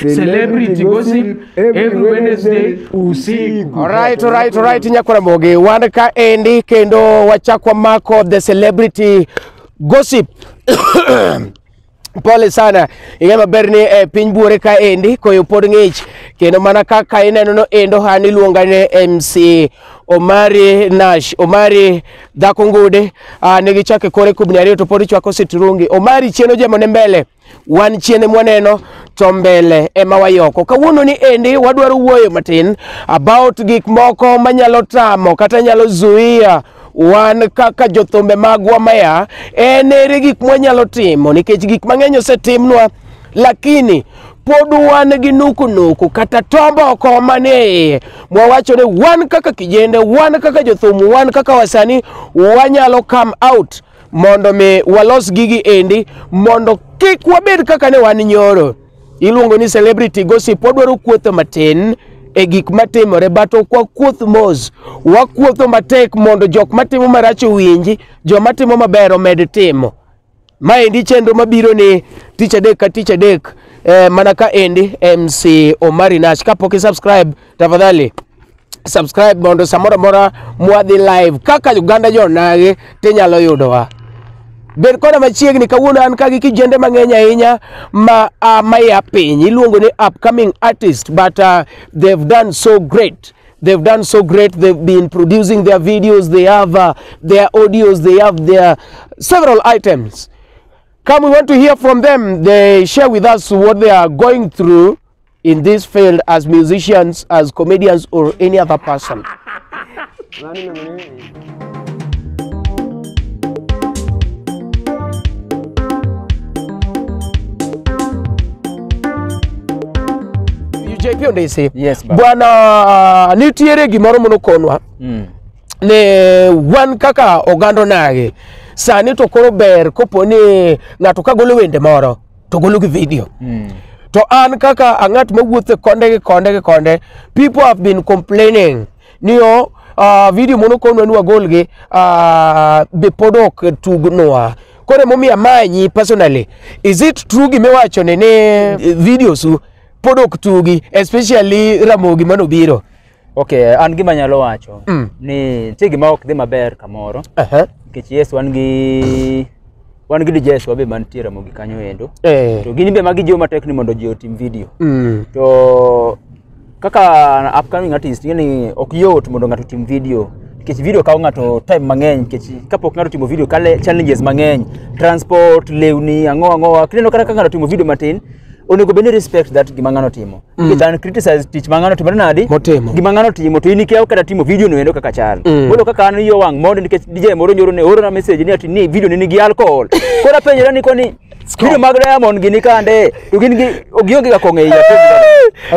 Celebrity gossip every Wednesday usiku. Alright, alright, alright, Nyakura Mogi. Wan ka endi kendo wachak wamako the celebrity gossip. Pole sana. Ing'e maber ni e piny buore ka endi koyo pod ng'ich kendo mana kaka ineno no endo hani luonga ne MC Omari Nash. Omari dhako ngude ah, ne gichake kore kubni ariyo to pod chwako sitirungi. Omari chieno jemo ne mbele. wan chiene mwaneno to mbele ema wayoko. Kawuono ni endi wadwaro wuoyo matin about gik moko manyalo tamo kata nyalo zuia wan kaka jothumbe magwa maya en ere gik mwanyalo timo nikech gik mang'eny osetimnwa lakini pod wan gi nukunuku kata tomboko manie iye mwawacho ni wan kaka kijende wan kaka jothum wan kaka wasani wanyalo come out mondo mi walos gigi endi mondo kik wabed kaka ne wan nyoro. Iluongo ni celebrity gossip, wadwaro kuotho matin e gik matimore but ok wakuoth mos, wakuotho matek mondo jok matimo marach owinji, joma timo maber omed timo. Maendi chenro mabiro ni tich adek ka tich adek eh, mana ka endi MC Omari Nash. Kapok i subscribe tafadhali subscribe mondo samoro amora mwadhi live kaka Uganda jonage tinyalo yudowa. Bed koda machiegni kawuono an ka gi kijende mang'eny ahinya ma uh, maya piny iluongo ni upcoming artist but uh, they've done so great they've done so great they've been producing their videos they have uh, their audios they have their several items come we want to hear from them they share with us what they are going through in this field as musicians, as comedians, or any other person. JP Ondesi. Yes, baba. Bwana nitiere gimoro mono konwa Mm. ne wan kaka oganda onagi sani to koro ber kopo ni ng'ato ka golo wende moro to golo gi video to an kaka ang'at mawuothe konde gi konde gi konde people have been complaining ni o uh, video mono konwa ni wagol gi uh, be pod ok tugnwa koro emomiyo amanyi personally is it true gimiwacho ni ni eh, videos u pod ok tugi especially ramogi manobiro Okay, an gima nyalo wacho Mm. ni nitie gima ok dhi maber kamoro Ehe. nikech Yesu wan gi wan gi Jesu be mantie Ramogi kanyo endo. Eh. To gin be magi jiwo matek ni mondo ji otim video. Mm. To kaka an upcoming artist ing'e ni ok yot mondo ng'ato otim video nikech video kawo ng'ato time mang'eny nikech kapok ng'ato timo video kale challenges mang'eny transport lewni ang'o ang'o kineno kata ka ng'ato timo video matin onego bed ni respect that gima ng'ano timo mm. than criticize tich ma ng'ano timo nadi Motimo. gima ng'ano timo to in ikia kata timo video no endo kaka chal Mm. bolo kaka an yo wang' mondo nikech DJ moro nyoro ne oro na message ni ati ni video ni nigi alcohol koro apenjora ni koni video mag Diamond gini kande to gin gi ogionge ga kong'e iya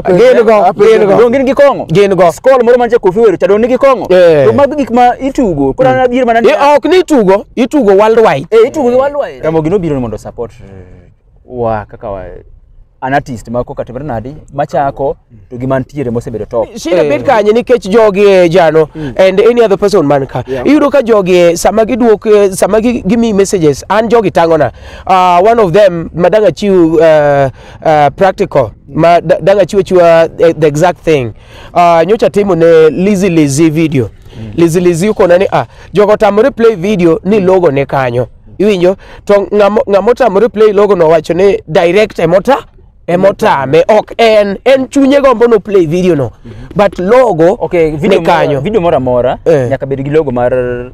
Gin go, gin go. gin gi kong'o Gin go. skol moro manche kofi wero chado nigi kong'o Eh. to mag gik ma itugo koro an adier mana ni Eh, ok ni itugo itugo worldwide eh itugo gi walwa Ramogi nobiro ni mondo support wa kaka wa an artist ma koka timre nadi machako to gi mantiere mosebedo top Shida Eh, bet kanye nikech jogi eh, jano and any other person man ka. Yeah. Iyudo ka jogi eh, sama giduok eh, sama gi- gimi messages an jogi tangona. Uh, one of them madanga chiu uh, uh, practical ma da- danga chiu chiwa eh, the exact thing. Uh, nyocha timo ne Lizzy Lizzy video. Lizzy Lizzy uko nani ah jogo tamore play video ni logo ne kanyo. iwinjo to ng'amo ng'amo otamore play logo no wacho ni direct emota emotame ok en en chunye gombo no play video no but logo Okay, video ni moro- kanyo video moro amora Eh. nyaka bed gi logo mar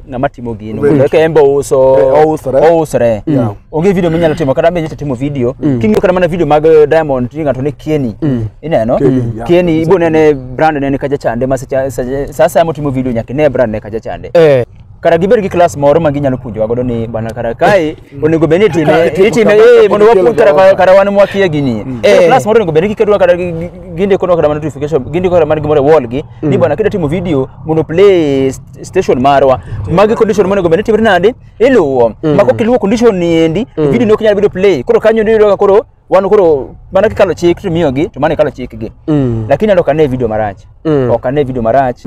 ng'ama timo gino Very mondo eka en be ouso Eh, ousre. ousre Yeah. onge video minyalo timo kata be nyata timo video king'iyo kata mana video mag eh, diamond ti ng'ato ne kieni ineno Kenny, yeah. kieni ibo nene brand nene kaja chande ma seche- seche- sa asaya motimo video nyaka ine brand ne kaja chande eh kara gibed gi klas moro ma ginyalo puonjowa godo ni bana kara kae onego bed ni itime Kara itimo itime kama, eh, mondo kama wapuonj kara kama. kara wan mwakia gini Eh. klas moro onego bed ni giketo kara gi- gi- gindiko nwa kara mana notification gindiko kara mana gimoro e wall gi ni bana kida timo video mondo play st- station marwa magi condition monego bed ni timre nade iluwo ma kok iluwo condition ni endi video ni ok nyal bedo play koro kanyo ni ka koro wan koro mana kikalo chik to miyogi to mana ikalo chikgi Mm. lakini ando kane video marach Mm. ok ane video marach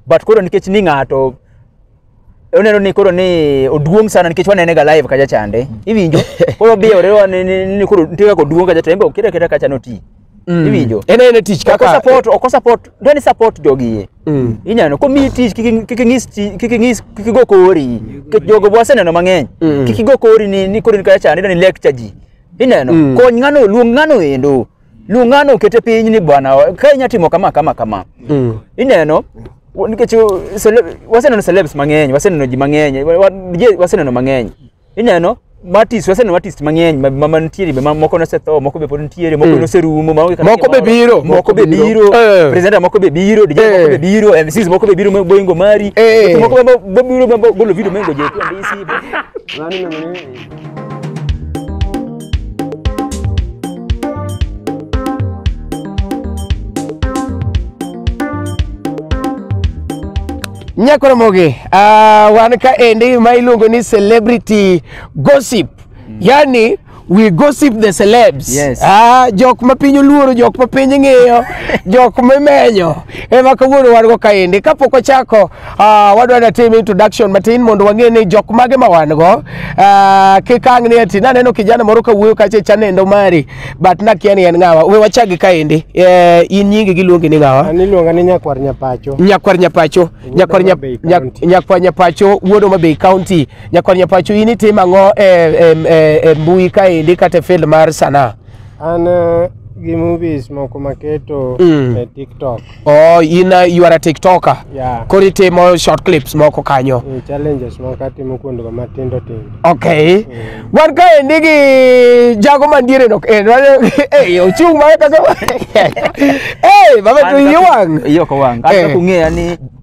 but koro nikech ni ng'ato oneno ni koro ni oduong' sana nikech wanene ga live kacha chande iwinjo koro biyore wa ni- ni ni koro nitie kaka oduong' kacha to en be okira kira kacha noti iwinjo en en tich oko kaka support oko support ndio ni support jogi Mm. inyano komi tich kik kik ng'is ti- kik ng'is kik go kori kik jogo bwaseneno mang'eny Mm. kik go kori ni ni koro ni kacha chande ni lecture ji ineno Mm. kony ng'ano luong ng'ano endo lung'ano okete piny ni bwana o- ka inya timo kama kama kama Mm. ineno w- nikech uh, cele- waseneno celebs mang'eny waseneno ji mang'eny wa- wa- je- waseneno mang'eny ineno matis waseneno matis mang'eny ma- ma- mantiere be ma- moko nosetho moko be pod nitiere moko noserumo ma- kata Moko be gimoro. biro, moko moko be biro. biro Eh. presenter moko be biro DJ moko Eh. be biro MCs moko be biro ma- boingo mari Eh. moko be- be biro ma- golo video mengo je tu andisi nyakoromogi uh, wan ka endi ma iluongo ni celebrity gossip mm. yani we gossip the celebs yes. ah, jok ma piny oluoro jok ma piny ng'iyo jok mimenyo ema kawuono wan go kaendi kapok ochako Ah, wadwa da tim introduction matin mondo wang'e ni jok mage ma wan go Ah, kik ang' ni ati naneno kijana moro ka wuoyo kacha chanendo mari but nakia ni en ng'awa we wachagi kaendi Eh, in nyingi giluongi ni ng'awa An iluonga ni nyakwar nyapacho. nyakwar nyapacho nyakwar Homa Bay Nyak- Nyak- County. nyakwar nyapacho wuod Homa Bay County nyakwar nyapacho in itimo ang'o e, e, e, e mbui kaendi kata e field mar sanaa An eh, gi movies moko maketo Mm. e TikTok. Oh, in uh, you are a TikToker. Yeah. Koro itimo short clips moko kanyo. Eh, challenges moko atimo kuondgo matindo tindo. Okay. Wan ka endi gi jago mandiere no. Eh, wan- eh, ochung' ma kaka. Eh, baba to iye wang'. Iyo ko wang. Eh. Kata kung'eya ni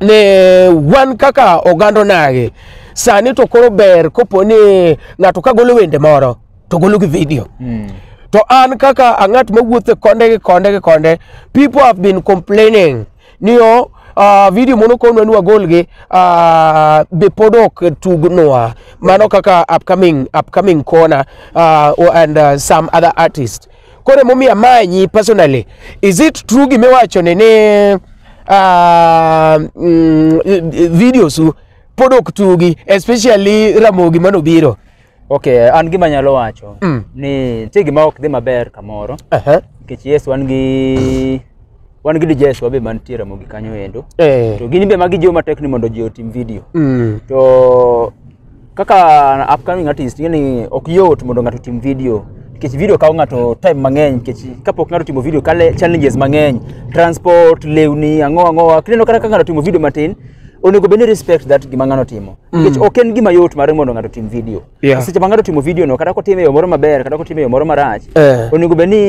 ne wan kaka oganda onagi sani to koro ber kopo ni ng'ato ka golo wende moro to golo gi video mm. to an kaka ang'at mawuothe konde gi konde gi konde people have been complaining ni o uh, video mono konwa ni wagol gi uh, be pod ok tugnwa mano kaka upcoming, upcoming corner uh, and uh, some other artists Koro emomiyo amanyi personally. Is it true gima iwacho ni ni ah, mm, videos u pod ok tugi especially Ramogi mane obiro. Okay, an gima nyalo wacho Mm. ni nitie gima ok dhi maber kamoro Aha. nikech yes wan gi wan gi DJs wabe mantie Ramogi kanyo endo. Eh. To gin be magi jiwo matek ni mondo ji otim video. Mm. To kaka an upcoming artist ing'e ni ok yot mondo ng'ato otim video nikech video kawo ng'ato time mang'eny nikech kapok ng'ato otimo video kale challenges mang'eny transport lewni ang'o ang'owa kineno kata ka ng'ato otimo video matin onego bed ni respect that gima ng'ano timo nikech ok en gima yot mar mondo ng'ato otim video Yeah. seche ma ng'ato otimo video no kata kotime e yo moro maber kata kotime e yo moro marach Eh. onego bed ni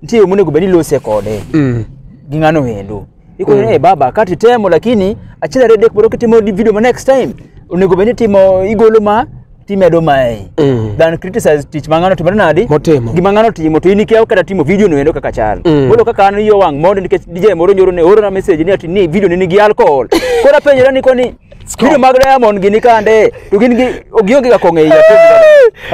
nitie yo monego bed ni ilose kode Mm. gi ng'ano wendo ikone mm. hey, baba kati temo lakini achiel ariyo adek mondo kitimo di- video ma next time onego bed ni itimo igolo ma timedo mae Mm. than criticize tich ma ng'ano timo nadi Motimo. gima ng'ano timo to in ikia kata timo video no endo kaka chal Mm. koro kaka an yo wang' mondo nikech DJ moro nyoro ne orona message ni ati ni video ni nigi alcohol koro apenjora ni koni Kido mag Diamond gini kande to gin gi gionge ga kong'e iya.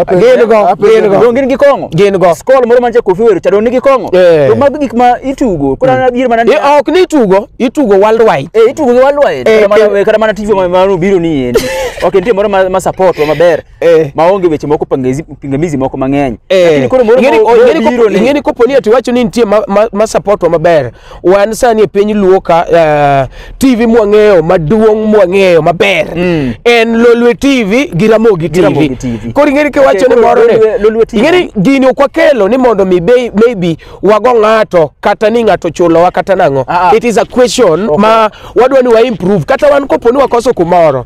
Gin go, gin go. Donge gin gi kong'o? Gin go. Skol moro manche kofi wero cha donge gi kong'o. Eh. To mag gik ma itugo. Kora na biro mana ni. Eh, ok ni itugo, itugo worldwide. Eh, itugo gi worldwide. Eh, kata mana kata mana TV ma ma biro ni endi. Ok nitie moro ma ma support wa maber. Eh. Ma onge weche moko pangezi pingamizi moko mang'eny. Eh. Lakini koro moro Ingeni- ma ingeni biro kopo- ni. ingeni kopo ni ati iwacho ni nitie ma- ma- ma support wa maber wan sani e piny luo ka eh, tv mwang'eyo maduong' mwang'eyo maber Mm. en lolwe tv gi ramogi Gi Ramogi TV. tv koro ing'eni kiwacho Okay, ni koro moro Lolwe- ni Lolwe TV. ing'eni gini ok wakelo ni mondo mi be- maybe wago ng'ato kata ni ng'ato chulowa kata nang'o Ah, ah. it is a question Okay. ma wadwa ni wa improve kata wan kopo ni wakoso kumoro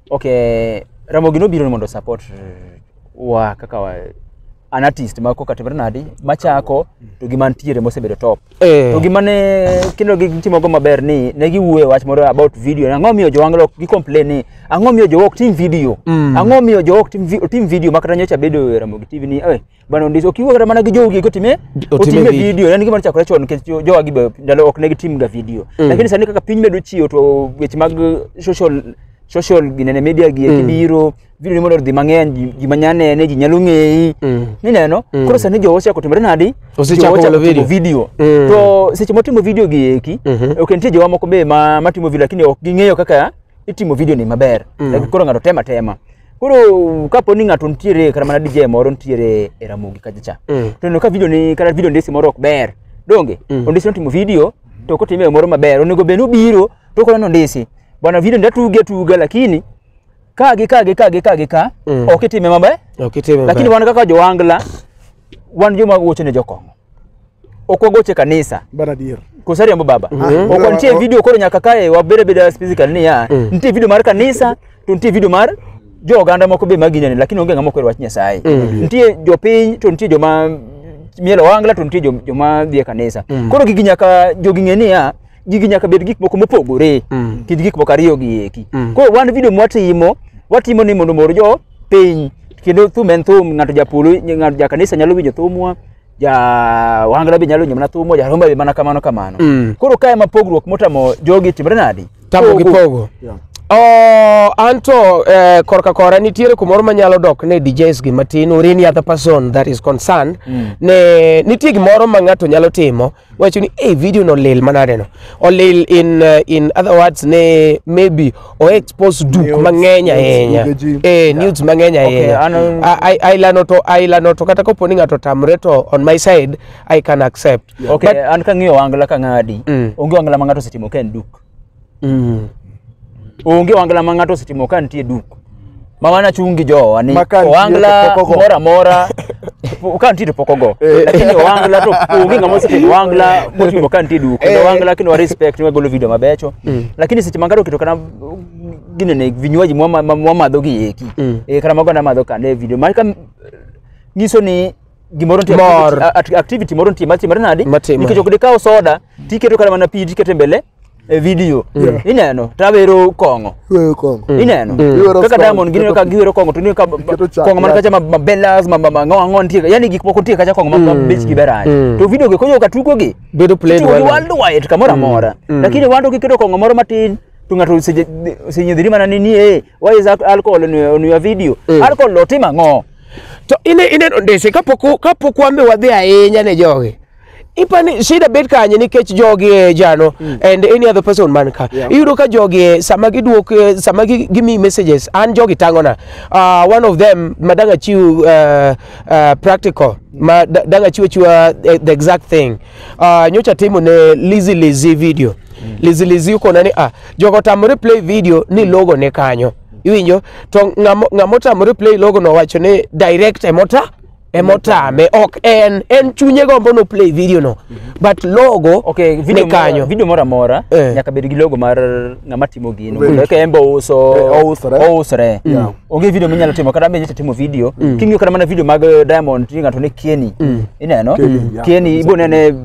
Okay, Ramogi nobiro ni mondo support wa kaka wa, an artist ma koka timre nadi machako to gi mantiere mosebedo top. Eh. To gima ne kendo gi timo go maber ni ne giwuoyo wach moro about video. ni Ang'o miyo jowanglo gi complain ni ang'o miyo jowok tim video? Mm. Ang'o miyo jowok tim vi- tim video makata nyocha bedo e Ramogi TV ni eh Bana Odis ok iwuo kata mana gi jogi kotime Otime otime video. video yani gima chakore chon nikech jo- jowa gi be ndalo ok ne gitimga video lakini sani kaka piny medo chiwo to weche mag social social ginene media gi mm. biro video ni mondo odhi mang'eny ji- ji manya nene ji nyalo ng'eyi Mm. nineno koro sani jowa ochako timore nadi Osechako Jowa ochako golo video. timo video Mm. to seche motimo video gi eki Mhm. ok nitie jowa moko be ma matimo video lakini ok ging'eyo kaka itimo video ni maber Lakini koro ng'ato tema tema Koro kapo ni ng'ato nitiere kata mana DJ moro nitiere e Ramogi kacha cha. Mm. To neno ka video ni kata video ndesi moro ok ber. Donge? Mm. Ondesi notimo video to kotime moro maber. Onego bed ni obiro to koneno ndesi. Bwana video ndatuge atuga lakini ka gi ka gi ka gi ka gi ka Mm. ok itime maber. Ok itime Lakini maber. wan kaka jowangla wan joma wuocho ne jokong'o. ok wagoche kanisa Bana adier. kosariambo baba Mhm. ok nitie video koro nyaka kae wabede beda physical niya Mm. nitie video mar kanisa to nitie video mar jo oganda moko be maginyani lakini onge ng'ama okwero wach nyasaye Mm. nitie jopiny to nitie joma mielo wangla to nitie jo- joma dhi e kanisa Mm. koro gigi nyaka jogi ng'e niya gigi nyaka bed gik moko mopogore Mm. kind gik moko ariyo gi eki Mm. koro wan video mwatimo watimo ni mondo mor jo piny kendo thum en thum ng'ato japolo ng'ato ja kanisa nyalo winjo thumwa ja wangla be nyalo winjo mana thumwa ja romba be mana kamano kamano Mm. koro kae ma pogruok motamo jogi timre nadi tamo gi pogo Yeah. Oh, anto eh, korka kora nitiere kumoro manyalo dok ne DJs gi matin or any other person that is concerned Mm. ne nitie gimoro ma ng'ato nyalo timo wacho ni hey, video no lil manade no olil in uh, in other words ne maybe o expose duk Nudes, mang'eny nudes, ahinya video ji. eh nudes mang'eny Okay, ahinya ano- A- ai- ailano to ailano to kata kopo ni ng'ato tamre to on my side i can accept Okay, But- an kang'iyo wangla kang'adi. Mm. Onge wangla ma ng'ato osetimo ka en duk. Mm. onge wangla ma ng'ato osetimo ka nitie duk ma mana chung' gi jowa ni Ma ka nitie owangla to pok ogo. moro amora po- ka nitie to pok ogo Eh. lakini owangla to onge ng'ama osetimo owangla motimo ka nitie duk kendo Eh. owangla kendo wa respect wa golo video mabecho lakini seche ma ng'ato oketo kata ginene vinywaji mwa- ma- ma- mwamadho gi eki Mm. Eh, kata mago namadho kane video ma ka nyiso ni gimoro nitie Mor. activity- a- a- activity moro nitie matimore nadi Matimore. nikech ok dikaw soda tiketo kata mana pi tiketo e mbele e video ineno tawero kong'o Wewe kongo. ineno Iwero kaka song, diamond gineno ka giwero kong'o to ineno ka Iketo chak kong'o man kacha ma- ma bellas ma- ma- ma- ng'o ang'o nitie yani gik moko nitie kacha kong'o ma- ma bechgi ber ahinya to video gi konyo ka tugogi Bedo played Itugo gi well. worldwide kamoro amora lakini wando kiketo kong'o moro matin to ng'ato oseje- osenyedhiri mana ni ni eh, why is al- alcohol on your- on your video alcohol otimo ang'o To ine ineno ndese kapok u- kapok wambe wadhi ahinya ne jogi. Ipani shida bet kanye nikech jogi e jano and any other person man ka. Yeah. Iyudo ka jogi e, sama giduok e, sama gi- gimi messages an jogi tangona. Uh, one of them madanga chiw uh, uh, practical ma da- danga chiwo chiwa eh, the exact thing. Uh, nyocha timo ne Lizzy Lizzy video. Lizzy Lizzy ukona ni ah jogo tamore play video ni logo ne kanyo. iwinjo to ng'amo- ng'ama otamore play logo no wacho ni direct emota emotame ok en en chunye gombo no play video no but logo Okay, video ni kanyo mora, video moro amora Eh. nyaka bed gi logo mar ng'ama timo gino. Wait. Mondo eka en be ouso Eh, ousre. ousre. Yeah. Onge video minyalo timo kata mbe timo video. King'iyo kata mana video mag eh, Diamond tinga to ne Kieni. Ineno? Kieni, yeah. Kieni ibo nene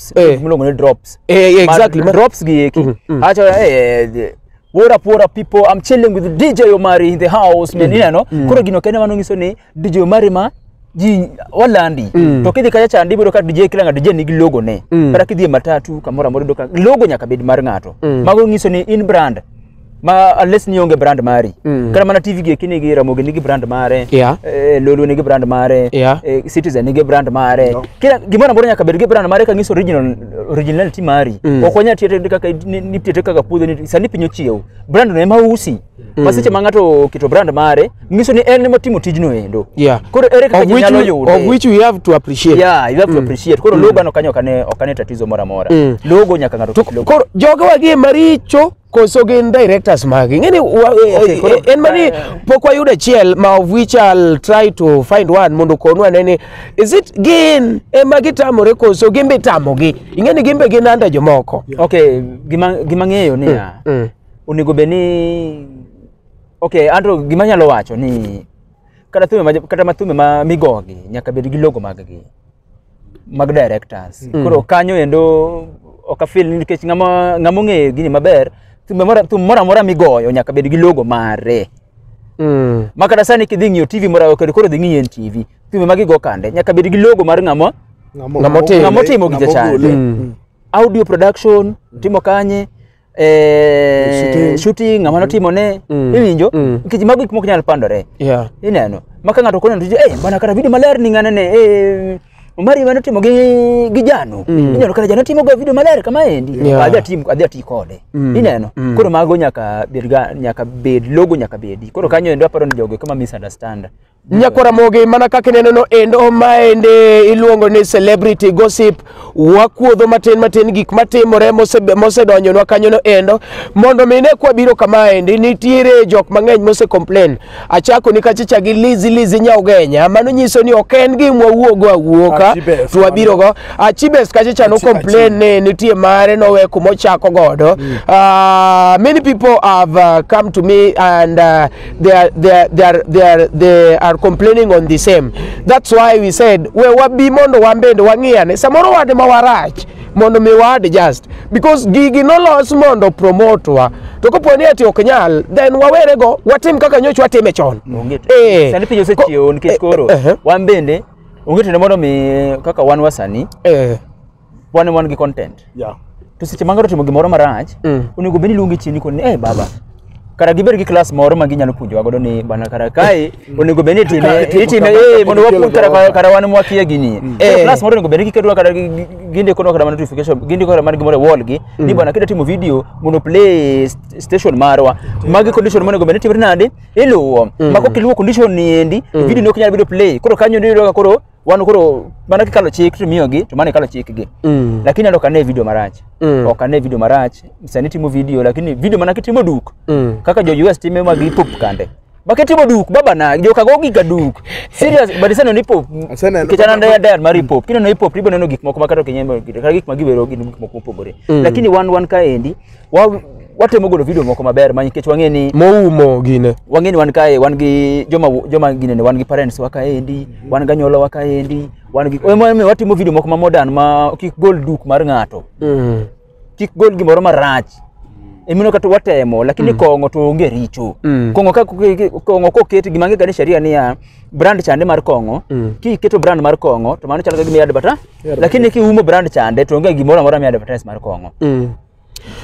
drops Eh. miluongo ni drops Eh, yeah, Ma- exactly. ma- drops gi eki Mhm, mhm. acha eh, eh, the- what up what up people i'm chilling with dj omari in the house man ineno koro gino kende mano nyiso ni dj omari ma ji walandi Mm. to kidhi kacha chandi ibodo ka dj kila ng'a dj nigi logo ne Mm. kata kidhi e matatu kamoro amora ibodo ka logo nyaka bed mar ng'ato Mm. mago nyiso ni in brand ma unless ni onge brand mari Mm. kata mana tv gi kini gi ramogi nigi brand mare Yeah. eh, lulu nigi brand mare Yeah. eh, citizen nigi brand mare No. kila gimoro ambacho nyaka bed gi brand mare ka nyiso original originality mari Mm. ok wanyal tiyo kaka ni- ni tiyo kaka puodho ni sani piny ochiew brand no ema usi ma seche ma ng'ato oketo brand mare nyiso ni en ema timo tijno endo Yeah. koro ere kaka Of ji which, nyalo we, yude of which we have to appreciate. yeah you have to appreciate koro logo no kanyo okane okane tatizo moro amora Mm. logo nyaka ng'ato To- koro jogewa gi maricho koso gin directors magi ng'eni wa- e- Okay, e- koro- en mani pok wayudo achiel ma of which I'll try to find one mondo konu ane ni is it gin ema gitamore koso gin be itamogi ing'eni gin be gin anda jomoko okay gima gima ng'eyo ni ya Mm. onego bed ni okay andro gima nyalo wacho ni kata thume ma, kata mathume ma migogi nyaka bed gi logo mag gi mag directors Mm. koro kanyo endo ok afil ni nikech ng'ama ng'ama ong'eyo gini maber thumbe mora- thum moro amora migoyo nyaka bed gi logo mare Mm. ma kata sani kidhi ng'iyo tv moro kendo koro dhi ng'iyo en tv thumbe ma gigo kande nyaka bed gi logo mar ng'ama Ng'ama otimo. Ng'ama otimo gi jachande. Mm. audio production timo kanye eh, Shooting. shooting ama notimo ne Mm. iwinjo Mm. nikech mago gik mok nyal pandore Yeah. ineno ma ka ng'ato koneno tije eh bana kata video maler ni ng'ane ne eh Omari mane timo gi gi Jano Mm. inyalo kata Jano timo go video maler kama endi Yeah. adhi atim adhi ati kode Mm. ineno Mm. koro mago nyaka bed ga nyaka bed logo nyaka bedi koro kanyo endo aparo ni jogo kama misunderstand Nyako Ramogi mana kaka ineno no endo maende iluongo ni celebrity gossip wakuodho matin matin gik matimore mose- mosedonjonwa kanyo no endo mondo mine kwa biro kama endi nitiere jok mang'eny mose complain achako ni kachicha gi lizi lizi nyaugenya mano nyiso ni ok en gi mwawuogo awuoka Achibes, to wabirogo achibes kachicha no Achi- complain ni nitie mare nowe kuma ochako godo Ah, many people have uh, come to me and uh, they are, they are, they are, they are, they are complaining on the same that's why we said we wabi mondo wambende wang'iyane samoro wade ma warach mondo mi wa adjust because gigi nolos mondo promotwa to kopo ni ati ok nyal then wawere go watim kaka nyoch watime chon Onge to- Eh, sani piny ko- osechiewo nikech eh, koro eh, eh, wan bende onge to ne mondo mi kaka wan wasani eh, wan wan gi content Yeah. to seche ma ng'ato otimo gimoro marach Mm. onego bed ni iluonge chien ikone ni hey, baba kara gibed gi klas moro ma ginyalo puonjowa godo ni bana kara kae onego bed ni itime Kara itimo itime kama, eh, mondo kama wapuonj kara kama. kara wan mwakia gini Eh. eh. klas moro onego bed ni gikedowa kara gi- gi- ginde kono kara mana notification ginde kara mana gimoro e wall gi ni bana kida timo video mondo play st- station marwa magi condition monego bed ni timre nade iluwo ma kok iluwo condition ni endi video ni ok nyal bedo play koro kanyo ni yudo ka koro wan koro mana kikalo chik to miyogi to mana ikalo chikgi Mm. lakini ando kane video marach Mm. ok ane video marach sani timo video lakini video mana kitimo duk Mm. kaka jo US time ma gi pop kande bakitimo duk baba na joka go giga duk serious but sano ni pop Asena- kichana nda da mari pop kino no pop ribo neno gik moko makato kenyembe kata gik magiwero gin gik moko mopogore lakini one one kaendi wa watemo golo video moko maber ma nikech wang'e ni moumo gine wang'e ni wan kae wan gi joma joma gine ni wan gi parents wa kaendi wan ga nyolo wa kaendi wan gi omo omo watimo video moko ma modern ma kik gol duk mar ng'ato mm. kik gol gimoro marach emino kata watemo lakini kong'o to onge richo Mm. kong'o ka kong'o koket gima ng'e gani sheria niya brand chande mar kong'o Mm. kiketo brand mar kong'o to mano chalo ka gima i advertise lakini kiumo brand chande to onge gimoro amora mi advertise mar kong'o mm.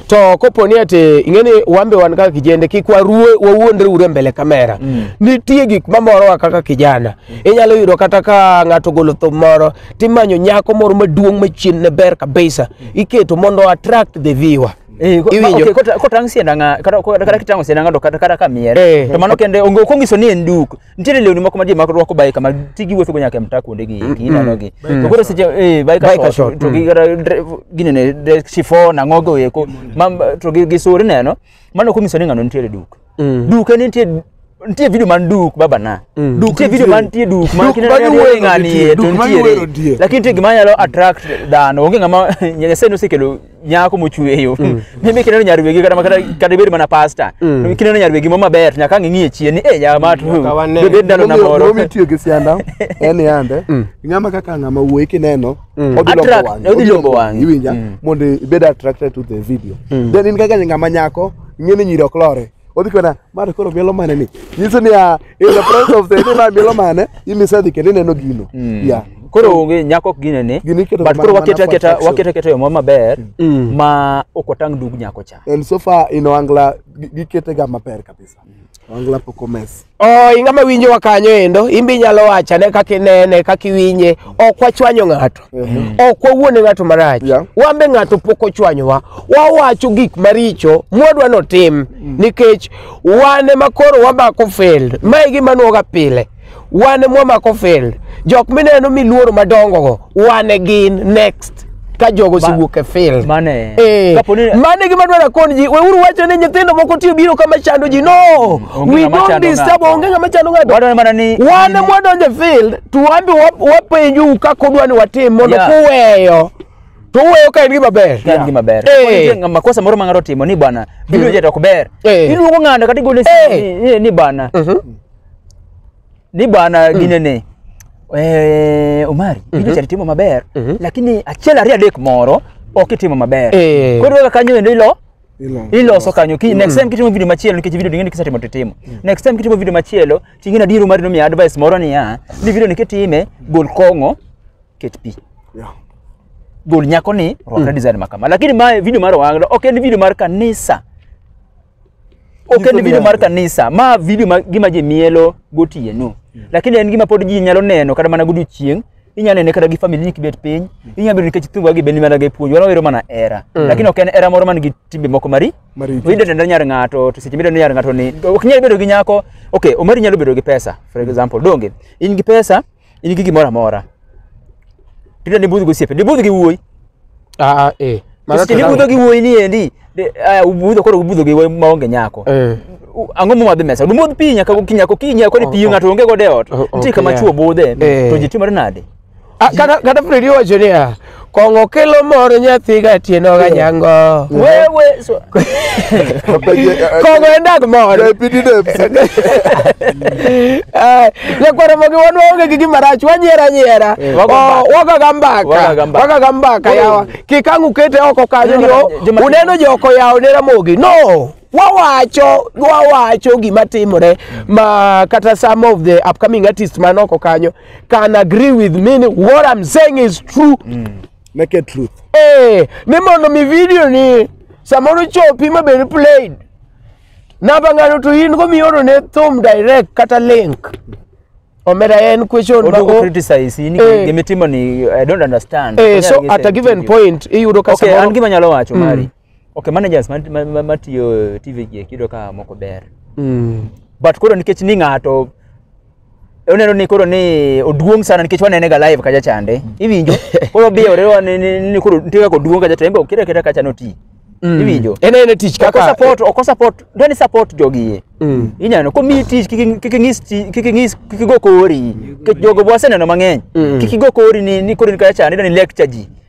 to kopo ni ati ing'e ni wan be wan kaka kijende kik waruwe wawuondre ure mbele kamera mm. nitie gik mamorowa kaka kijana mm. inyalo yudo kata ka ng'ato golo thum moro timanyo nyako moro maduong' machien ne ber kabisa mm. iketo mondo attract the viewer mm. Eh, iwinjo kotang' siendanga kata kitang'o siendanga to kata kamier eh. to mano kende onge okongiso ni en duk nitiere lewni moko ma ji mako rwako bike ma ti giwuotho go nyaka e mtaa kuonde gi eki ineno gi to koro seche eh bike Biker short, short, to gi kata dre- gini ne dre- chiffon ang'o go eko ma to gi gi suri neno mano kumiso ni ng'ano nitiere duk duk en nitie nitie video man duk baba na Duk nitie video nitie. man nitie duk man Duk kineno ma ni giwero ng'ani nitie, e to duk ma giwero nitiere nitie. lakini nitie gima nyalo attract dhano onge ng'ama nyasaye nosekelo nyako mochweyo mimi kineno nyar wegi kata kata kata ibed mana pasta Mm. kineno nyar wegi ma maber nyaka ang' ing'iye chien ni eh jama to Nyaka wane. do bed ndalo na moro Momi tiyo gi sianda en yande. Ng'ama kaka ng'ama wuoyi kineno Mm. odhi lombo Attract, wang'i. odhi lombo wang'i. Iwinja Mm. mondo ibed attracted to the video. Then in kaka ng'ama nyako ing'e ni nyiri ok lore. odhi kona mar koro mielo mane ni nyiso ni ah, in the presence of the ni ma mielo mane imise dhi kendo ineno gino yeah koro onge nyako ok ginene Gini iketo but mana- koro mana wakete for aketa attraction. wakete aketa yo moro maber ma ok watang' dug nyako cha and so far in Ohangla gi- giketega maber kabisa Ohangla pok omes Oh, ing'ama winjowa kanyo endo imbe inyalo wacho ane kaka inene kaka iwinje ok wachwanyo ng'ato ok wawuone ng'ato marach Yeah. wan be ng'ato pok ochwanyowa wawacho gik maricho mwadwa notim nikech wan ema koro wamako field ma e gima nwoga pile wan ema wamako field jok mineno miluoro madongogo one again next ka jogo osewuok e field Mane. Eh, Kapo ni- mano e gima dwaro akon ji weuru wacho ni nyithindo moko tiyo biro kama chando ji no Onge we ng'ama don't chando disturb ng'ato. onge ng'ama chando ng'ato Wadwaro mana ni wan ni- mwadonjo e field to wambi wa- wapenjou kaka udwa ni watim mondo Yeah. kuweyo to uweyo ka en gima ber Ka en gima ber. Eh. Kapo ni nitie ng'a- makosa moro ma ng'ato otimo ni bwana video jet ok ber. Eh. Iluongo ng'ano kata igole Eh. ni, ni bwana. Mhm. ni bwana mm. ginene eh, omari mm -hmm. ichari timo maber mm -hmm. lakini achiel ariyo adek moro ok itimo maber eh. koro kaka kanyo endo ilo iloso kanyo ki next mm. time kitimo video machielo nikech video ding'eni kisetimo to itimo mm. next time kitimo video machielo ting'eni adiero mar nomiya advice moro niya ni video ni kitime gol kong'o ket pi yeah. gol nyako ni rwakre mm. design makama lakini ma video mar owanglo ok en video mar kanisa ok en video mar kanisa ma video ma gima ji mielo gotieno lakini en gima pod ji nyalo neno kata mana godiochieng inyalo nene kata gi famili ni kibet piny inyalo bedo nikech thumba gi beni mana gi puonj wana wero mana era lakini ok en era moro man gi timbe moko mari Maricho. oyudo tenda nyar ng'ato to seche midendo nyar ng'ato ni ok nyal bedo gi nyako ok omari nyalo bedo gi pesa for example donge in gi pesa in gi gimoro amora tida ni budh gosiepe ni budh gi wuoyi ah eh Mano seche ni budho gi wuoyi ni endi de- ah, ubudho koro ubudho gi wuoyi maonge nyako eh U- ang'o momadhi mesa dumodh pi nyaka gokinyi nyaka okinyi nyaka koni pi Oh, oh. ng'ato onge godo e ot Oh, nitie kama okay. chwo budhe Eh. to ji timore nade Ah, kata kata Fred owacho niya Kong'o kelo mor nyathi ga tieno ga nyango. Wewe so- Kong'o en dag mor. Eh, Nyakwaro mogi wan waonge gi gima rach wanyiera nyiera. Wago Oh, mbaka. Waga ga mbaka. Waga ga mbaka. Waga ga mbaka yawa. Kik ang' ukete oko kanyo ni oh, Joma- uneno joko yawo ne Ramogi. No. wawacho wawacho gima timore ma kata some of the upcoming artists man oko kanyo can agree with me ni what I'm saying is true Naked truth. eh ni mondo mi video ni samoro chopi ma bed played namba ng'ano to in go mioro ne thum direct kata link omera en question ma Oduoko o- criticize in Eh. gimitimo ni I don't understand. eh Onyalo so gi at a same given video. point iyudo ka Okay, an samoro gima nyalo wacho mari. okay managers mat- ma- ma- matiyo tv gi eki iyudo ka moko ber Mm. but koro nikech ni ng'ato oneno ni koro ni oduong' sana nikech wanene ga live kacha chande iwinjo koro biyore wa ni- ni ni koro nitie kaka oduong' kacha to en be okira kira kacha noti Mm. iwinjo En en e tich oko kaka support oko support ndo ni support jogi Mm. inyano ko mi tich kik kik ng'is ti- kik ng'is kik igo kori nikech jogo bwaseneno mang'eny Mm. kik igo kori ni ni koro ni kacha chande ndo ni lecture ji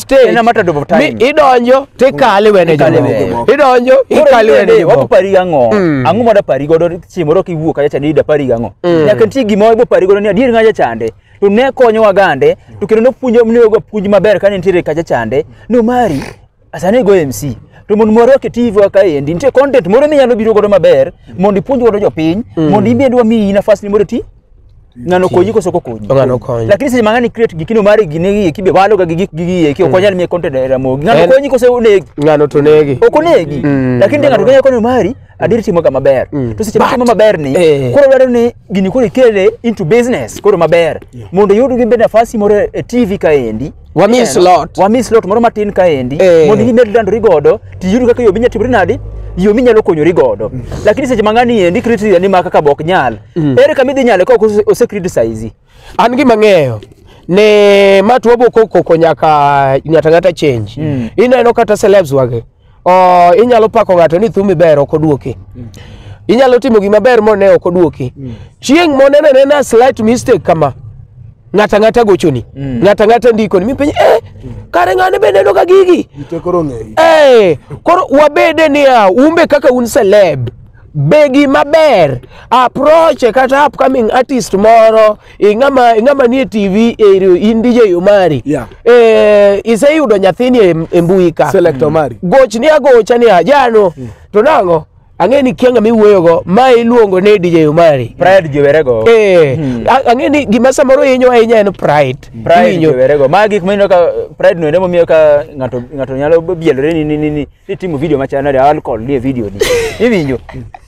stage. In a matter of time. Mi idonjo to ikale wene Ikale jomoko. wene. Idonjo Koro ikale in wene bende jomoko. wapari ang'o Mm. ang'o ma dapari godo chieng' moro kiwuok kacha chande dapari gang'o Mm. nyaka nitie gima wabo pari godo ni adier ng'acha chande to ne konyowa gande to kendo nopuonjo nonego puonj maber kane nitiere kacha chande nomari asane go MC to mondo mwarwak e TV wa kaendi nitie content moro minyalo biro godo maber mondo ipuonj godo jopiny mondo in bende wamiyi nafas ni mondo iti ng'ano konyi koso ok okonyi Ng'ano okonyi. lakini seche mang'ani create gikino mar gine gi eki be waloga gi gik gigi eki ok wanyal miye content e ramogi ng'ano En- konyi koso onegi ng'ano to negi ok onegi Mm. lakini de ng'ato kenya kono mari adier timoga maber Mm. to seche matimo maber ni Eh. koro dwaro ni gini koro ikele into business koro maber mondo iyud gi be nafasi moro e tv kaendi Wa miss Ineno? lot. wa miss lot moro matin kaendi Eh. mondo gimed landori godo tiyud kaka yo minya timori nadi yo minyalo konyori godo lakini seche mang'ani endi criteria ni ma kaka bok nyal ere kama idhi nyale kok ose- ose criticize an gima ng'eyo ne matuobo kokoko nyaka nyata ng'ata change Mm. ineno kata celebs wage oh, inyalo pako ng'ato ni thumi ber ok oduoki mm. inyalo timo gima ber mone ok oduoki mm. chieng' moneno nena slight mistake kama ng'ata ng'ata gochoni mm. ng'ata ng'ata ndikoni mi penye eh, mm. kare ng'ane be neno ka gigi eh, koro wabede niya umbe kaka un celeb be gima ber approach kata upcoming artist moro e ng'ama e ng'ama nie TV e iro- in DJ Omari Yeah. eh iseyudo nyathini e, e mbui ka Select Omari. goch ni agocha ni ajano to nang'o ang'e ni kianga miwuoyogo ma iluongo ni DJ Omari Pride jowerego. eh a- ang'e ni gima samoro hinyo ahinya en pride Pride Hinyo. jowerego. Ma gik mineno ka pride no ende momiyo ka ng'ato ng'ato nyalo bielore ni ni ni ni ni timo video machana ni alcohol ni e video ni. Iwinjo?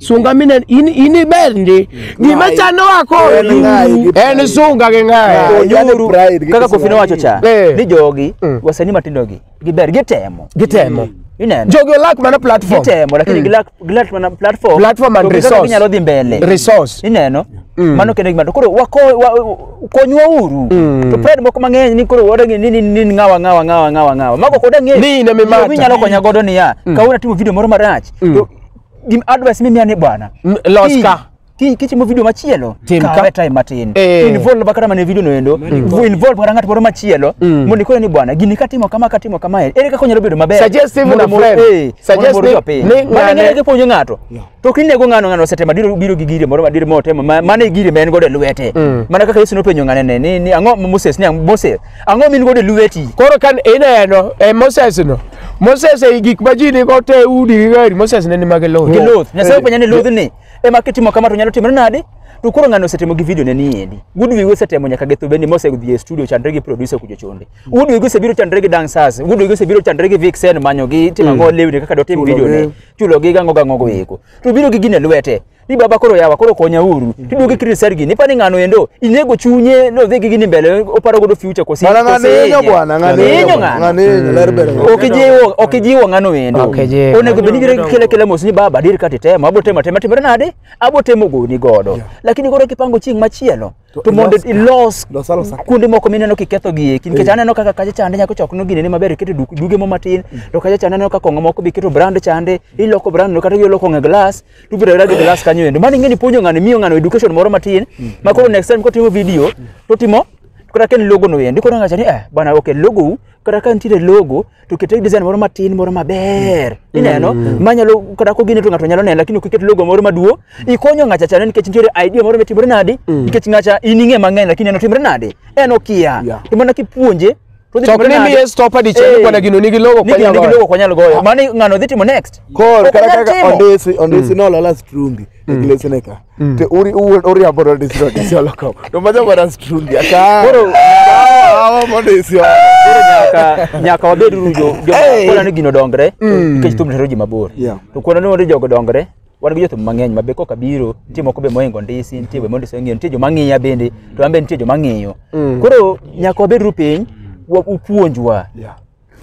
Sunga mine in in iber ndi. Gima chano wako. En ng'ayi gi En pride. sunga gi ng'ayi. Ng'ayi. Yaani Onyuru pride, kaka gikisema kofino wacho cha Eh. ni jogi Mm. wasanii matindo gi giber gitemo Gitemo. ineno Jogi olak mana platform. gitemo lakini Mm. gilak gilak mana platform Platform and to kaka resource. ginyalo dhi mbele Resource. ineno Mm. mano kendo gima to koro wako wa- konywa uru Mm. to pride moko mang'eny ni koro wadangi ni ni ni ng'awa ng'awa ng'awa ng'awa ng'awa mago koda ng'e Ni in ema imata. inyalo konya godo niya Mm. kawuna timo video moro marach Mm. to gim advice mimiya ni bwana M- los kiny- ka. kiny kitimo video machielo Tim ka. kawe time matin Eh. involve ba kata mana e video no endo Vu- involve kata ng'at moro machielo mondo ikone ni bwana gini katimo kama katimo kama ere kaka onyalo bedo maber Suggest even Mondo a mor- friend. eh, Suggest mondo mor ni- jopiny. ni Mano ng'ane- ng'ane kipuonjo ng'ato to ok inego ng'ano ng'ano osetemo adiro biro gi gire moro madire motemo ma- mano e gire ma en godo e lwete mana kaka yesu nopenjo ng'anene ni ni ang'o moses ni ang- moses Ang'o min godo e lweti? Koro kan ineno e Moses no. Moses e gik ma ji nigo te udi gi gari Moses ne ni mage lowo. Gi loth. Nyasaye openja ni loth ni ema kitimo kama to nyalo timore nade? To koro ng'ano osetimo gi video ne ni endi. Wood Wigo osetemo nyaka getho bendi Mose odhi e studio chandre gi producer kujo chonde. Wood Wigo osebiro chandre gi dancers. Wood Wigo osebiro chandre gi Vixen manyo gi timo ngo lewni kaka dotim video ne. Chulo gi gango gango go eko. To biro gi gine lwete. ni baba koro yawa koro konya uru tiduogi kiri sergi ni pani ngano endo inego chunye no dhigi gini mbele oparo godo future kosi Bana ng'aninyo bwana, ng'aninyo, ng'ano ng'aninyo, ler bedo ng'ano. okijiwo okijiwo ngano endo Okijiwo. onego bedi gire kile kile mos ni baba dir katitema abotema tema timre nade abotemo goni godo lakini koro kipango chieng machielo To to mondo ilos- ilos Los alos ak- kuonde moko mineno kiketho gi eki nikech aneno kaka kacha chande nyako chok no ginene maber iketo duk- duge mo matin to kacha chande aneno ka kong'o moko be iketo brand chande iloko brand no kata iloko ng'e glass to ibiro rado glass kanyo endo mano ing'eni puonjo ng'ano miyo ng'ano education moro matin ma koro next time kotimo video to timo kata ka en logo no endo koro ng'acha ni eh bana okay logo u kata ka nitiere logo to kete design moro matin moro maber ineno manyalo kata kogine to ng'ato nyalo neno lakini okiket logo moro maduo ikonyo ng'acha chane nikech nitiere idea moro mitimore nadi nikech ng'acha in ing'e mang'eny lakini en otimre nadi en okia Yeah. to mana kipuonje to odhi To ok timore ni nadi? miye stopper dichiel ni Eh, bwana gino nigi logo ni kwa gino nigi nyalo logo kwa nyalo goyo mano ng'ano dhi timo next Kor, Ok kata onyal kaka timo. ondisi, ondisi nolola strungi, e glesine ka. te uri uwuon uriambo nodisiro disiolo kom to maja mana strundi aka Koro- awa modisio Koro nyaka nyaka wabed uru jo jo Hey! kwana ni gino dongre nikech thum hero ji mabor Yeah. to kwana ni wande jogo dongre wan gi jothum mang'eny ma be koka biro nitie moko be mohingo ndisi nitie be mondisi ong'eyo nitie joma ng'iya bende to an be nitie joma ng'iyo koro nyaka wabed uru piny wa- upuonjwa Yeah.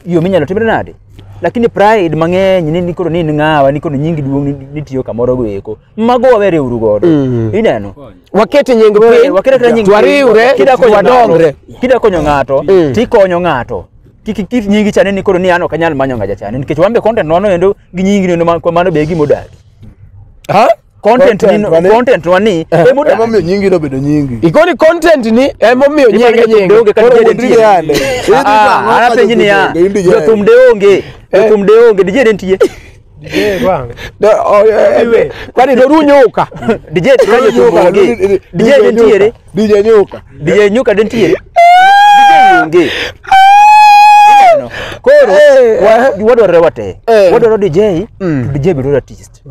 yo minyalo timre nade lakini pride mang'eny ni nikoro ni in ng'awa nikoro nyingi duong' ni- nitiyo kamoro go eko mago waweriuru godo Mm. ineno waket nying Wewe, piny wakere kira nyingi- twariwre kida konyo ng'ato- twadongre kida konyo ng'ato Mm. tikonyo ng'ato kik kik nyingi chane ni koro ni an ok anyal manyo ng'aja chane nikech wan be content nono endo gi nyingi neno ma- mano be e gima odagi Ha? content Content ni mane? content wani emuda Emomiyo nyingi nobedo nyingi. Ikoni content ni emomiyo nyinge nyinge nyinge. Koro kata Koro DJ DJ yande. Idhi Ah, tang'o ah, ka anapenji niya jothum onge, in DJ jothum de onge jothum de onge DJ de nitie Eh, bang. Do- o- eh, Iwe. Kwani doru nyuka. DJ ka jothum onge DJ de nitiere DJ Nyuka. DJ nyuka de nitiere DJ onge Ineno? koro Eh, wa- wadwarore wate Eh. wadwaro DJ to DJ biro artist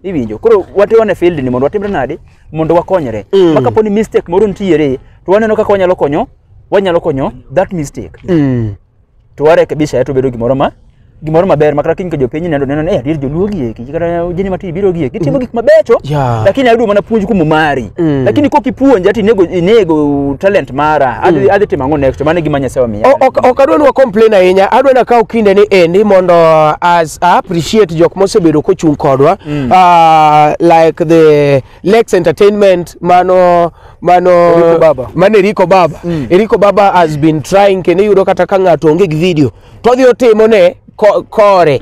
iwinjo koro wate wane field ni mondo watimre nade mondo wakonyre Mm. ma kapo ni mistake moro nitiere to waneno kaka wanyalo konyo wanyalo konyo that mistake Mm. to warekebisha to bedo gimoro ma gimoro maber makata kiny ka jopiny neno neno ni "Eh, adier joluo gieki kata jeni mati biro gieki gitimo gik mabecho Yeah. lakini ayudo mana puonj kuom omari Mm. lakini ko kipuonja ati inego, inego talent mara adhi, adhi timo ang'o next mane gima nyasaye omiya O- ok ok adwa ni wa complain ahinya adwa ni akaw kinde ni endi mondo as I appreciate jok mosebedo kochung' kodwa Ah, like the Lex Entertainment mano mano Eriko Baba. mano Eriko Baba Eriko Baba has been trying kendo iyudo kata ka ng'ato onge gi video to odhi otimo ne ko- kore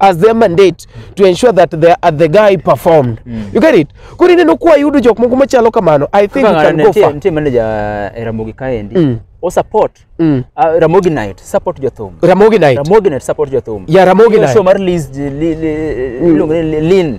as their mandate to ensure that the, uh, the guy performed you get it koro ineno kwa yudo jok moko machalo kamano i think you can go far nitie manager eh, Ramogi kaendi Mm. o support Mm. ah, Ramogi night support jothum ramogi night Ramogi night support jothum ya ramogi Hiyo night show mar Liz- Li- Li- iluongo ni Lin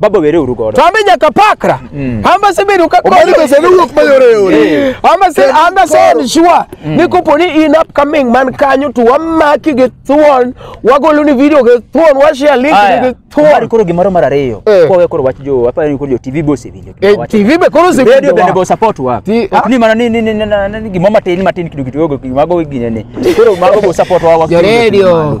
Baba were uru godo. To ambe nyaka pakra. Amba se bedo ka Omani pesa ne wuok mayore yore. Amba se amba se en sure ni kopo ni in upcoming man kanyo to wamaki gi thuon wagolo ni video gi thuon wa share link ni gi Mari thuon. koro gimoro mar ariyo. Eh. Kwa we koro wach jo apa ni koro jo TV boss winjo. Eh, TV be koro se Radio bende go support wa. Ti- Ok ni mana ni ni ni ni- ni- ni gimoro matin matin kidogo kidogo mago gine ni. Koro mago go support wa wa. Jo radio.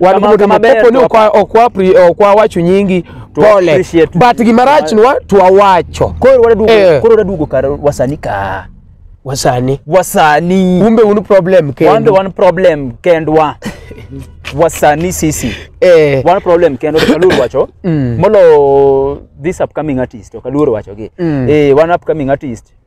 Wan Kamano, kumoto kama ber mapopo ni to ok wa- ok wa pri- ok wawacho nyingi To pole appreciate. but gima rachnwa to wawacho Koro wadaduogo Eh. koro wadaduogo kar wasani ka. wasani Wasani. umbe un problem Wan be kendo wan problem kendwa. Wasani sisi. eh Wan problem kendwa to Kaluor wacho. Mm. Molo this upcoming artist to Kaluor wacho gi. Mm. Eh wan upcoming artist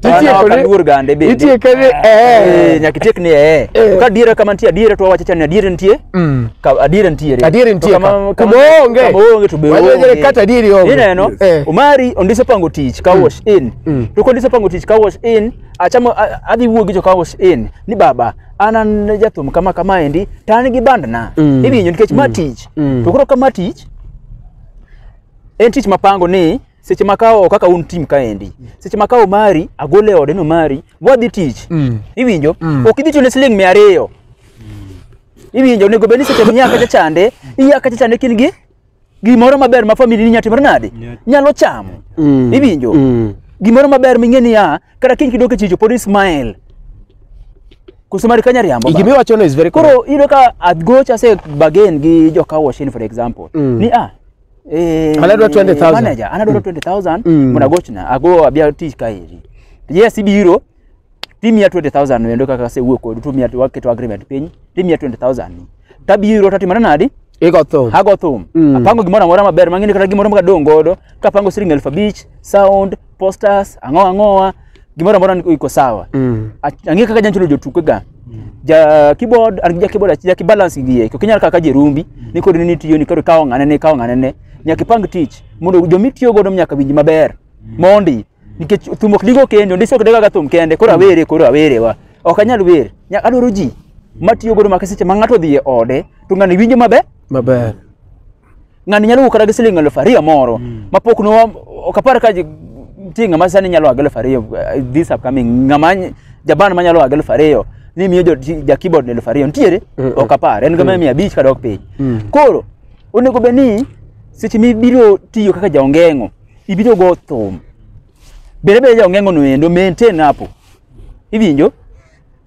To an Itieko ok ni- aluor gande bende. itieke ni, eh. Eh, nyaka itiek ni eh. Eh. Ka adiera kama nitie adiera to wawacho cha ni adiera nitie. Mm. Ka adiera nitiere. Adiera To nitie kama- ka. kama- Kuma onge. kama onge to be Wacha onge. jere kata adieri onge. Ineno? Eh. Omari ondiso pango tich ka wash in. Mm. To kondiso pango tich ka wash in, achamo a- adhi wuo gi jo ka wash in ni baba an an jathum kama kama endi to an gi bandna. Mm. Iwinjo nikech ma tich. Mm. To koro kama tich en tich mapango ni seche ma kawo kaka un tim kaendi seche ma kawo mari agole ode no mari wadhi tich Mm. iwinjo Mm. ok idhi chune siling mia ariyo iwinjo onego bed ni seche miya kacha chande iya kacha chande kin gi gimoro maber ma famili ni nyatimore nade nyalo chamo Mm. iwinjo Mm. gimoro maber ming'e niya kata kiny kidok e chicho pod ismael koso mari kanya riambo Gima iwachono is very correct. koro iyudo ka adgoch ase bagen gi jokawoshini for example Mm. ni a Eh, Anadwa 20,000. Manager anadwa 20000 Mm. munagochna ago abia tich kaeri. Yes ibiro timia 20000 wendo kaka se wuok kod tumia to waketo agreement piny timia 20000 tabiro tatimana nadi Iko thum. hago thum Mm. apango gimoro amora maber mang'eni kata gimoro makadong' godo kapango siling' elfu abich sound posters ang'o ang'owa gimoro amora ni- iko sawa Mm. Ach- ang'e kaka janchulo jotukega ja keyboard an gi ja keyboard achiel ki balance gi yeko kinyal kaka jerumbi ni kod ni tiyo ni kod kawo ng'ane ne kawo ng'ane ne nyaka ipang tich mondo jomi tiyo godo nyaka winji maber mondi nikech thum ok digo kende ndisi ok digaga thum kende koro awere koro awere wa ok anyal wer nyaka adwaro ji matiyo godo maka seche ma ng'ato odhi e ode to ng'ani winjo maber Maber. ng'ani nyalo wuok kata gi siling elfu ariyo moro mm. mapok no ok apar ka nitie ng'ama sani nyalo wago elfu ariyo eh, this upcoming ng'ama jaban manyalo wago elfu ariyo ni miyo ja keyboard elfu ariyo nitiere mm, mm. ok apar en gama mm. mia abich kadok piny koro onego bed ni seche mibiro tiyo kaka jaongeng'o ibiro go thum bende bende jaongeng'o no endo maintain hapo iwinjo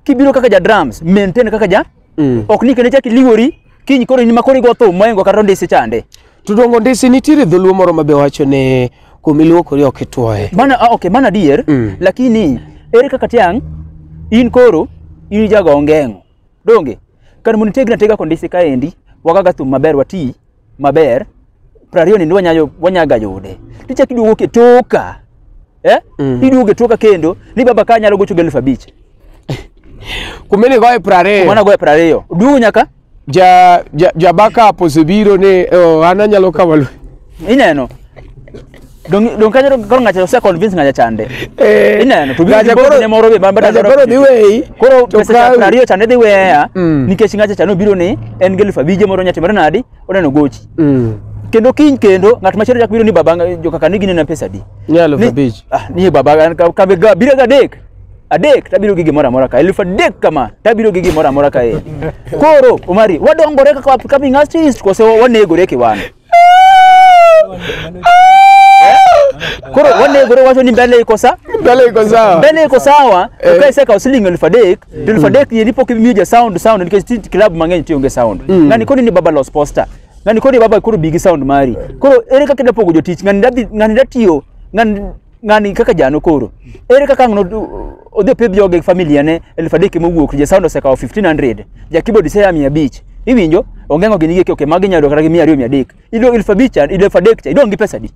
kibiro kaka ja drums maintain kaka ja Mm. ok ni kendo chak iliwori kiny koro in ma koro igo thum moingo kata ondisi chande To dongo ndisi nitiere dholuo moro ma be wacho ni kuma iluokori ok itwoye. mana ah, okay mana adier Mm. lakini ere kaka tiang in koro in jago ongeng'o donge kar mondo itegna tega kondisi kaendi wagaga thum maber wati maber prariyo nindi wanyayo wanyaga yude tichak iduogo ketoka eh? Mm. iduogo e toka kendo ni baba ka nyalo gocho gi elfu abich Kumbe ni goye prare. mana goyo piero ariyo duogo nyaka Ja ja ja backup osebiro ni oh, an anyalo kawo lu. ineno Dong- dong kanyo koro ng'acha ose convince ng'acha chande Eh. ineno to Gaja biro koro- ne moro be bamba gaja koro dhi weyi, koro to pesa cha kawi. piero ariyo chande dhi weya Mm. nikech ng'acha chande obiro ni en gi elfu abije moro nyati moro nadi oneno gochi Mm. kendo kiny kendo ng'at machielo chak biro ni baba nga- jo kaka nigi nena pesa di Ni aluf Ni- abich. ah, ni baba an ka- ka- ga- biro ga adek adek tabiro gi gimoro amora ka elfu adek kama tabiro gi gimoro amora ka e koro omari wadongore kaka upcoming artist kose wa- wanegore kiwana koro wanegore wacho ni mbele iko sa Mbele iko sawa. mbele iko sawa Eh. ukaiseka usiling elfu adek Don Fadek ye lipo kimiyo ja sound sound nikech ti club mang'eny tiyo gi sound. Ng'ani koni ni baba los poster. Ng'ani koni baba koro bigi sound mari. Koro ere kaka da pogo jotich ng'ani da dhi- ng'ani da tiyo ng'ani ng'ani kaka jano koro. Ere kaka ng'no odhi pidh joge gi familia ne elfu adek mowuok ja sound osekawo 1500 ja keyboard seya 500 iwinjo ongengo gini gi okay magi nyalo kata gi 200 300 ido elfu abich cha ido elfu adek cha idong' gi pesa di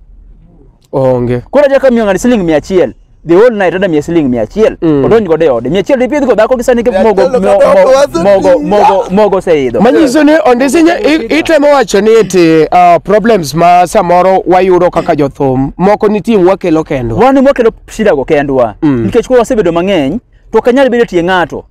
Onge. Koro achako miyo ng'ani siling mia achiel. The whole night ada miye siling mia achiel. Mm. Odonj godo e ode. Mia achiel ipidh go dhako gisani Yeah, mogo telo mo- kadoko, mo- wazo mogo ni- mogo mogo oseidho. Manyiso ni ondisi nye- i- itemo wacho ni eti ah, problems ma samoro wayudo kaka jothum moko nitie wakelo kendo. Wan ema wakelo shida go kendwa. Mm. Nikech koro wasebedo mang'eny to ok anyal bedo tie ng'ato.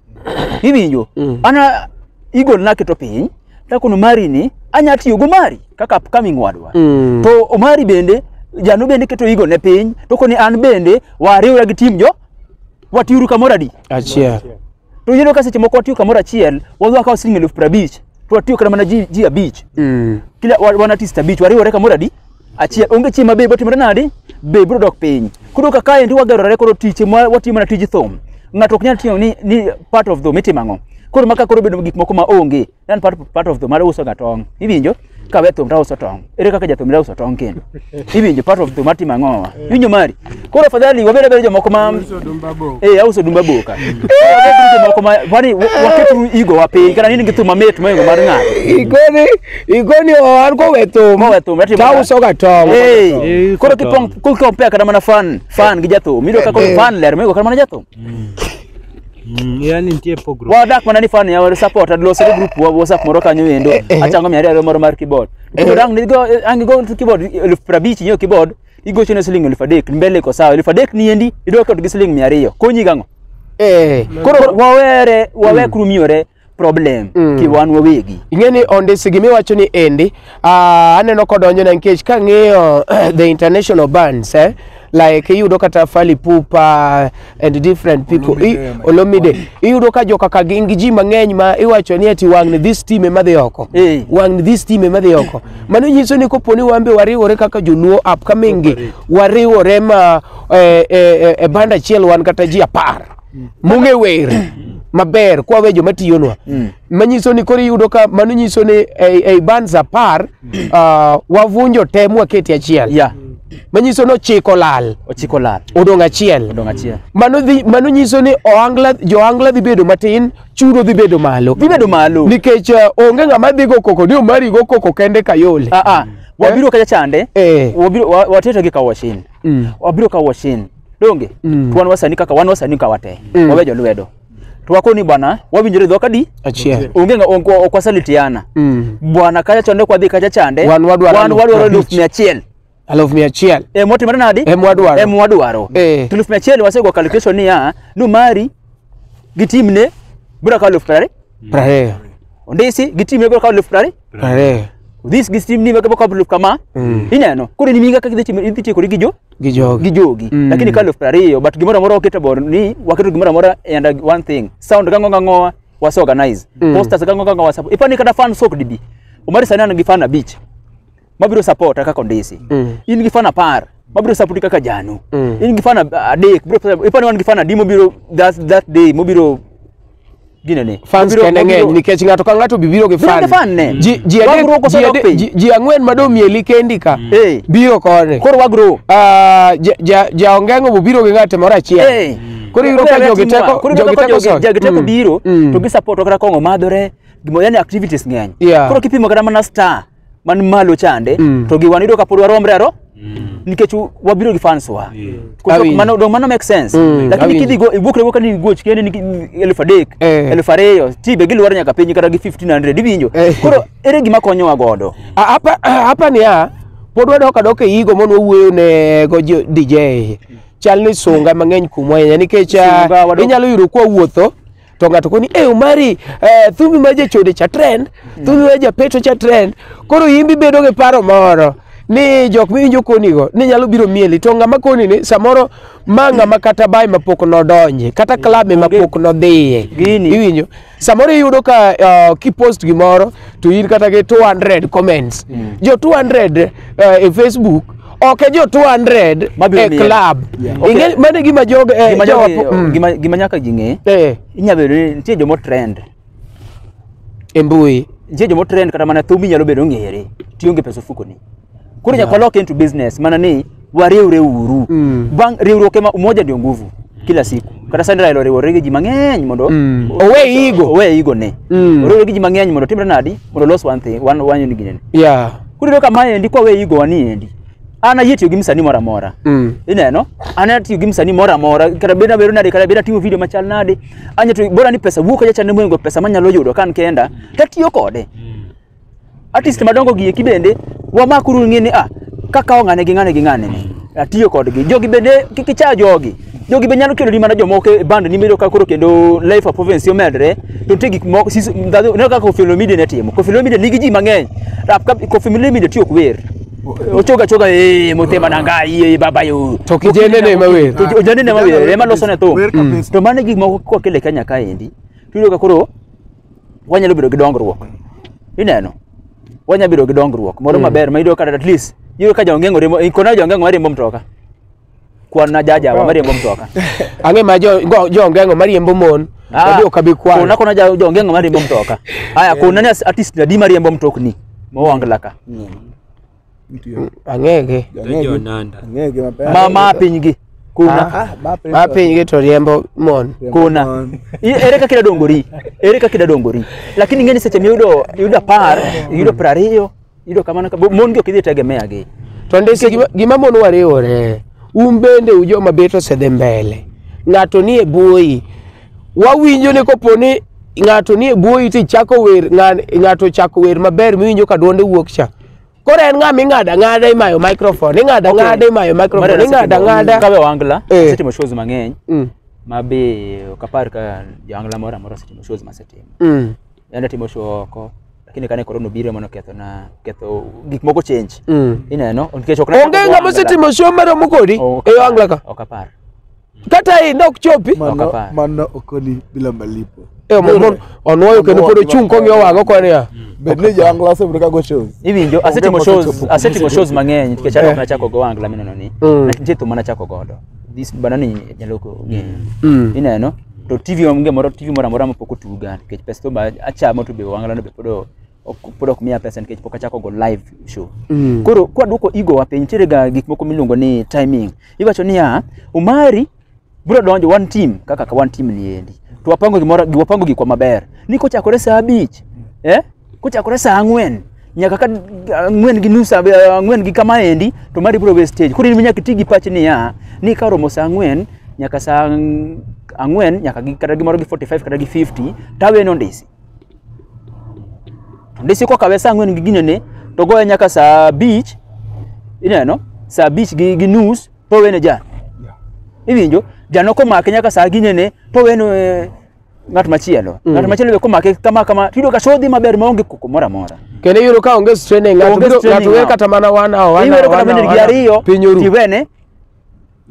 Iwinjo? Ana igol naketo piny takono mari ni anya tiyo go mari kaka upcoming wadwa Mm. to omari bende jano bende keto igo ne piny to koni an bende wariwra gi tim jo watiuru kamoro adi Achiel. to yeno ka seche moko watiyo kamoro achiel wadwa kawo siling eluf prabich to watiyo kata mana ji, ji abich Mm. kila wa- wan artist abich wariwore kamoro adi achiel onge chieng' ma be botimore nadi be biro dok piny koro ka kaendi wagerore koro tich ma watimo mana tij thum ng'ato ok nyal timo ni, ni part of thum itimo ang'o koro maka koro bedo gik moko ma onge nan part, part of thum mar uso ga tong iwinjo kawe thum tauso tong ere kaka jathum tauso tong kendo iwinjo part of thum atimo ang'o iwinjo mari Koro afadhali wabed abeda jomoko ma eh auso dumba boka. Wabed tu jomoko ma kwani wa- waket tu igo wa piny kata nini gitu mamit moingo mar ng'ato. Igoni, igoni owan kowe thum. Mowe thum ratimo. To auso ga tong'. Eh, koro kipong ku compare kata mana fan fan gi jathum. Mido kaka Eh. fan ler moingo kata mana jathum. yani nitie pogruok Wadak mana ni fan ya wa support ad loso group wa WhatsApp moro kanyo endo. eh. Achango mi ariyo moro mar keyboard. Koro dang ni go ang go to keyboard elfu prabich nyo keyboard. igochone siling elfu adek mbele iko sawa elfu adek niendi idwa kod gi siling mia ariyo konyi gang'o Eh, koro koro wawere wawe krumiore problem Mm. kiwan wawegi ing'e ni ondisi gima iwacho ni endi ah, aneno kodonjona nikech kang'iyo the international bands eh, like iyudo kata Fally Ipupa and different people Olomide I- ema- Olomide iyudo ka joka ka gin gi ji mang'eny ma iwacho ni ati wang'ni this team ema dhi oko Eh. wang'ni this team ema dhi oko mano nyiso ni kopo ni wan be wariwore kaka joluo upcoming gi wariwore ma eh, eh, eh, e banda achiel wan kata ji apar mung'e wer maber kwawe joma tiyonwa manyiso ni koro iyudo ka mano nyiso ni ei ei bands apar ah, wavunjo te mwaketi achiel ya manyiso ni ochiko lal ochiko lal odong' achiel odong' achiel mano dhi mano nyiso ni ohangla johangla dhi bedo matin chudo dhi bedo malo dhi bedo malo nikech eh, onge ng'ama dhi go koko ni omari go koko kende kayole ah ah wabiro kacha chande Eh. wabiro wa- wateto gi kawashin Mm. wabiro kawashin donge Mm. wan wasani kaka wan wasani kawate Mm. wawe jolwedo to wakoni bwana wawinjore dhok adi Achiel. onge nga- ok ok wasalitiana Mm. bwana kacha chonde kwadhi kacha chande Wan wadwaro wan aluf wadwaro eluf abich. mia achiel Aluf mia achiel. e motimore nadi Em wadwaro. em wadwaro Eh. To eluf mia achiel wasego calculation niya ni mari gi timne biro kawo eluf piero ariyo Prariyo. ondisi gi timne biro kawo eluf piero ariyo Are. this gi steam ni maka baka bluff kama Mm. ineno koro ni minga kaka idhi idhi tieko gi jo Gi jogi. gi jogi Mm. lakini ka elfu ariyo but gimoro amora waketo bor ni waketo gimoro amora and uh, one thing sound kango kango was organize Mm. posters kango kango was ipani kata fan sok dibi umari sana ngi fan abich mabiro support kaka ndisi Mm. in gi fan apar mabiro support kaka janu Mm. in gi fan adek bro ipani wan gi fan adi mobiro that that day mobiro Ginene. fans Obiro- kende ng'eny obiro- nikech ng'ato ka ng'ato bibiro gi Biro gi fan ne. fan ji ji adek- Wagruok ji osedok adek- piny. ji- ji ang'wen ma domieli kendi ka Eh. biro koni Koro wagro. Ah, ja- ja- jaongengo bobiro gi ng'ate moro achiel Eh. koro iyudo ka jogi teko Koro jogi teko sod. jogi teko Mm. biro Mm. to gi support kata kongo madhore gimo yani activities ng'eny. Yeah. Koro kipimo kata mana star man malo chande Mm. to gi wan yudo ka pod waromre aro nikech u- wabiro gi fans wa Yeah. Koro Awinjo. mano dong mano make sense Mm, lakini awinjo. kidhi go iwuok rewo ka ni goch kende ni ki- elfu adek Eh. elfu ariyo tibe gilwar nyaka piny kata gi 1500 iwinjo Eh. koro ere gima konyowa godo A- hapa hapa ni a pod wadok adok e yigo mondo wawuoyo ne go jo- DJ chal ni sunga mang'eny kuomwa ahinya nikech ah, Sunga wadok- inyalo yudo kwa wuotho to ng'ato koni e omari eh, thumbi ma jachode cha trend thumbi ma japeto cha trend koro imbi bedo gi paro moro ni jok miwinjo konigo ni nyalo biro mieli to ng'ama koni ni samoro ma ng'ama kata bae mapok nodonje kata klabe mapok nodhiye Gini. iwinjo samoro iyudo ka uh, kipost gimoro to in kata gi 200 comments jo 200 uh, e facebook ok e jo 200 Mabiro e miel. club Yeah. Ing'e- Okay. mano e gima jogo eh, Gima jowa- nyaka- mm. gima- gima nyaka ji ng'e Eh, inyalo bedo ni nitie jomo trend e mbui nitie jomo trend kata mana thumi nyalo bedo ng'ere tionge pesa ofukoni koro nyaka walok into business mana ni wariwre uru Mm. bang' riwruok ema umoja ndio nguvu kila siku kata sani Raila oriwore gi ji mang'eny mondo Mm. Owe igo. owe igo ne Mm. oriwore gi ji mang'eny mondo timre nadi mondo los one thing one one unit gine Yeah. koro iyudo ka ma endi kwa we igo wani endi an ayie tiyo gi msanii moro amora Mm. ineno an atiyo gi msanii moro amora kata bed nabedo nade kata bed atimo video machal nade anyato bora ni pesa wuok aja chande mwengo pesa manyalo yudo kan kenda tatiyo kode artist madongo gi eki bende wamakuru ng'e ni ah kakawo ng'ane gi ng'ane gi ng'ane ni atiyo kodgi jogi bende kik icha jogi jogi be nyalo keloni mana jomoko e band ni medo ka koro kendo life of province omedre to nitie gik moko sis- ndhadhu- ineno kaka Koffi Olomide ne timo Koffi Olomide nigi ji mang'eny rap ka Koffi Olomide tiyo ok wer ochoga choga eh motema na ngai eh baba yo To kijende ne ma wer. To kijende ne ma wer ema loso ne thum Wer kabisa. to mane gik moko kokele Kenya kaendi tuyudo ka koro wanyalo bedo gi dongruok ineno wanyalo bedo gi dongruok moro maber ma iyudo kata at least iyudo ka jongeng'o riembo ikona jongeng'o mariembo mtoka kwan na jajawa mariembo mtoka ang'e ma jo- go- jongeng'o mariembo mon wadhi ok abi kwana kona kona ja- jongeng'o mariembo mtoka haya kona ni as- artist adi mariembo mtokni mowangla ka Mtu yo. Ang'ege. Ang'ege. Jonanda. Ang'ege mapema. Ma ma pinygi. Kuna. Ah, mape. Ma pinygi to riembo mon. Kuna. I- Ere kaka idadongori? Ere kaka idadongori? Lakini ng'eni seche miyudo yudo apar, yudo piero ariyo, yudo kamano ka mon gi ok idhi tegemea gi. To ndisi gima, gima mon wariwore. Un bende ujoma bet osedhi mbele. Ng'ato nie buoyi. wawinjo ni kopo ni ng'ato nie bwoyi to ichako wer ng'a- ng'ato chako wer maber miwinjo ka dwonde wuok cha koro en ng'a ming'ado ang'ada imayo microphone ing'ado Okay. ang'ada imayo Mara microphone ing'ado nasetimo- ang'ada kawe wangla Eh. asetimo shows mang'eny Mm, ma be ok apar ka jawangla moro amora osetimo shows masetimo mm, yande atimo show oko lakini kane korona obiro mono ketho na ketho gik moko change mm. ineno nikech ok onge ng'ama osetimo show maromo kodi e wangla ka ok apar kata hii ndo kuchopi Mano, Okapar. mano okoni bila malipo. Eh, mon- mon- onwoyo kendo pod ochung' kong'iyo wang'o koni ya Bed ni jawangla osebedo ka go shows. Iwinjo asetimo Onge shows mosechopo. asetimo shows mang'eny nikech Eh. alok nachako go angla mineno ni. Mm. Nitie thum manachako godo. This bana ni jaloko ng'eyo. Mm. Ineno to TV onge moro TV moro amora mapok otuga nikech pesa to ba achamo to be wangla no be pod o- ok pod ok miya pesa nikech pok achako go live show Mm. koro kwa duoko ego wa piny nitiere ga gik moko miluongo ni timing iwacho niya umari bro donjo one team kaka ka one team ni endi to wapango gimoro gi- wapango gikwa maber ni kochakore saa abich eh kochakore saa ang'wen nyaka ka ang'wen gi nus ab- ang'wen gi kama endi to mari bro we stage koro in nyaka iti gi pach niya ni ka oromo saa ang'wen nyaka saa ang- ang'wen nyaka gi kata gimoro gi 45 kata gi 50 tawe nondisi ndisiko kawe saa ang'wen gi ginene to goye nyaka saa abich ineno saa abich gi, gi nus to wene jan iwinjo jano komake nyaka saa ginene to weno eh, ng'at machielo Mm. ng'at machielo be komake kama kama tiyudo ka shodhi maber maonge koko moro amora kendo iyudo ka onge straining ng'ato Onge biro- straining ng'ato wer now. kata mana one hour one iwero hour, kata one bende hour, gi one hour, ariyo piny oru tiwene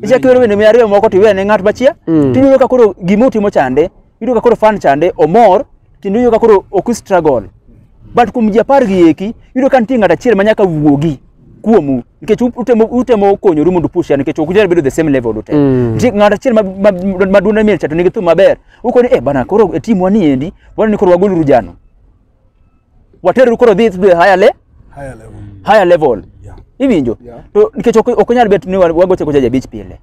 ichak iwero wende mia ariyo moko to iwene ng'at machia Mm. to iyudo ka koro gima otimo chande iyudo ka koro fan chande omor kendo iyudo ka koro ok struggle but kuom ji apar gi eki iyudo ka nitie ng'at achiel ma nyaka wuogi kuomu nikech u- utemo, utemo konyoru mondo push nikech ok unyal bedo the same level ute Mm. nitie ng'at achiel ma- ma- maduong' ne miel cha to nigi thum maber ukoni eh bana koro e timwa ni endi wana ni koro wagoluru jano waterru koro dhi to a higher le Higher level. higher level Yeah. iwinjo Yeah. to nikech ok ok onyal bet ni wa- wagoche gocha jabich pile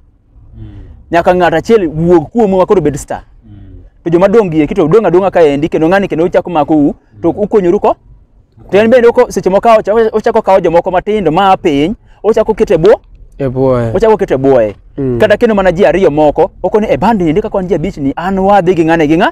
nyaka ng'at achiel wuog kuomu ma koro bed star to joma dong' gi eki to dong' adong'a ka endi kendo ng'ani kendo uchako mako u to ukonyoru ko to en bende oko- seche moko ocha- ochako kawo jomoko matindo maa piny ochako kete bwo E boy. ochako kete bwoye Mm. kata kendo mana ji ariyo moko okoni e bandi ndi kaka wan ji abich ni an wadhi gi ng'ane gi ng'a